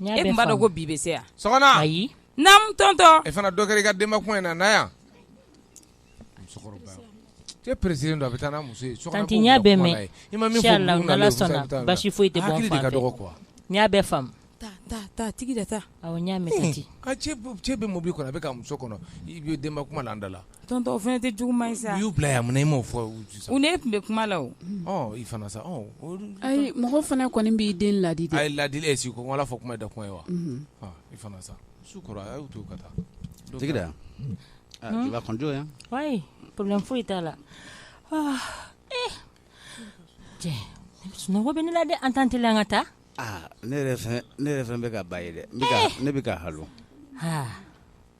S7: E tun b'a dɔn ko bi bɛ se yan sɔgɔna
S8: ayi naamu
S7: tɔntɔn e fana dɔ kɛ i ka
S8: denba kuma in na na yan cɛ pressé don a bɛ taa n'a muso ye n y'a bɛɛ mɛn
S10: n'ala sɔnna basi foyi tɛ n y'a bɛɛ faamu
S7: tigida taa
S10: cɛ bɛ mobili
S8: kɔnɔ a bɛ ka muso kɔnɔ i denba kuma la an da la Tɔntɔn fana tɛ
S7: juguman sa y'u bila yan munna i
S8: m'o fɔ u ne tun bɛ
S7: kuma la i fana
S8: sa
S11: ayi mɔgɔ fana kɔni b'i den ladi a ye ladi e si ko
S8: wala fɔ kuma da kɔn ye wa i fana sa su kora a y'u to ka taa
S9: tigida yan jɔ yan ayi
S10: problème foyi t'a la cɛ sunɔgɔ bɛ ne la dɛ an t'an teliya an ka taa ne
S9: ne yɛrɛ fɛn bɛ ka ba ye dɛ ne bɛ ka ha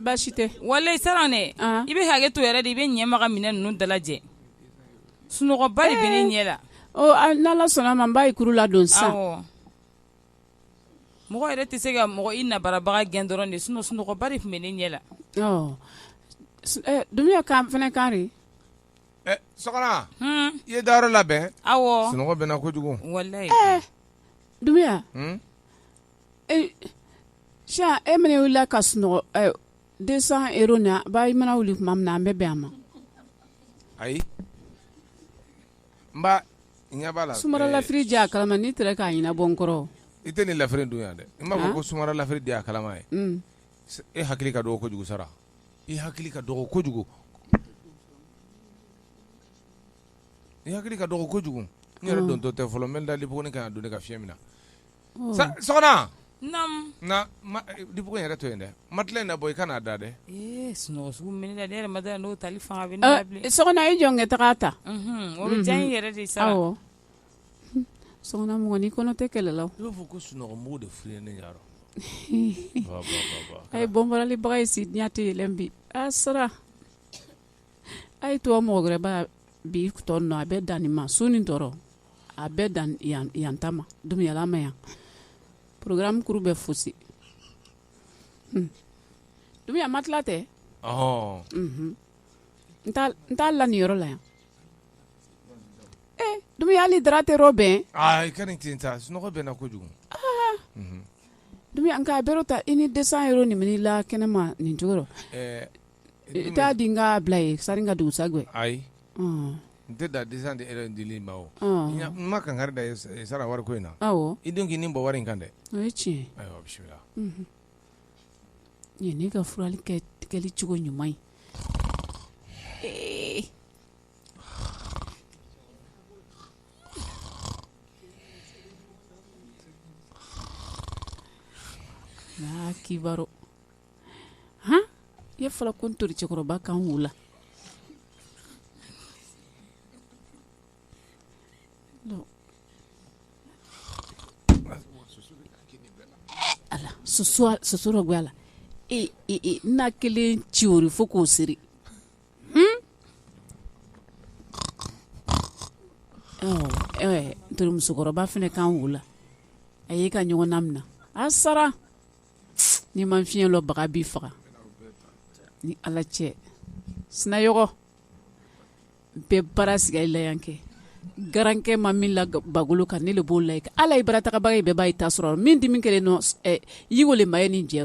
S11: baasi tɛ walayi sara
S7: ne i bɛ hakɛ to yɛrɛ de i bɛ ɲɛma ka minɛn ninnu dalajɛ sunɔgɔba de bɛ ne ɲɛ la n'ala sɔnna
S11: ma n b'a ye kuru ladon sa
S7: mɔgɔ yɛrɛ tɛ se ka mɔgɔ i nabarabaga gɛn dɔrɔn de sun sunɔgɔba de tun bɛ ne ɲɛ
S11: la dumuya ka fana
S8: kari i ye dayɔrɔ labɛn awɔ sunɔgɔ bɛ
S7: na kojugu
S8: walayi
S11: dumuya s e mana wulila ka sunɔgɔ deux cents euros na ba i mana wuli tuma min na an bɛ bɛn a
S8: ma ayi n ɲɛ la sumara lafiri di a
S11: kalama n'i tɛ k'a ɲɛnabɔ n kɔrɔ i tɛ nin lafiri
S8: dun yan dɛ n b'a fɔ ko sumara lafiri di a kalama ye mm. e hakili ka dɔgɔ kojugu sara i hakili ka dɔgɔ kojugu i hakili ka dɔgɔ kojugu n yɛrɛ mm. dontɔ tɛ fɔlɔ n bɛ dali buguni ka don ne ka fiɲɛ min na sɔgɔna dibugo yɛrɛ to yen dɛ matela in nabɔ i kana da
S7: dɛ n'o tali fanga bɛ sɔgɔna i jɔnkɛ taga
S11: ta o bɛ diya n
S7: yɛrɛ de sara
S11: sɔgɔna mɔgɔ ni kɔnɔ tɛ kɛlɛ la i b'a fɔ ko
S8: sunɔgɔ de filɛ
S11: ne a ye bɔnbɔralibaga ye si diɲɛ tɛ yɛlɛn bi a sara a ye to mɔgɔ wɛrɛba bi tɔ nɔ a bɛ dan nin ma su ni tɔɔrɔ a bɛ dan yan ta ma dumuya lama yan programme kuru bɛ fosi dumuya matela tɛ n t'a la nin yɔrɔ la yan dumuya hali dara tɛ yɔrɔ bɛn i ka nin ten
S8: ta sunɔgɔ bɛ na kojugu dumuya
S11: nka a bɛrɛ ta i ni deux cents euros nin minɛ la kɛnɛma nin cogo i t'a di n ka bila ye sani ka dugu sagwɛ
S8: ayi n tɛ da deux cents euros di ile ma o n ma kankari da sara wari ko in na i dun k'i ni bɔ wari in kan dɛ tiɲɛ
S11: bisimila nin ne ka furali kɛli cogo ɲuman ye kiba h i ye fɔla ko ntori cɛkɔrɔba kan wolo la soso dɔ bɛ a la n'a kelen ci o fo k'o siri ntori musokɔrɔba fana kan wolo a y'i ka ɲɔgɔn naminɛ a sara ni ma fiɲɛ dɔnbaga b'i faga ni ala cɛ sinayɔgɔ bɛɛ baara siga i la yan kɛ garankɛ ma min la bagolo kan ne de b'o la i kan ala ye baratagabaga ye bɛɛ b'a ye ta sɔrɔ min dimi kelen nɔ yeko de ma ye nin jɛ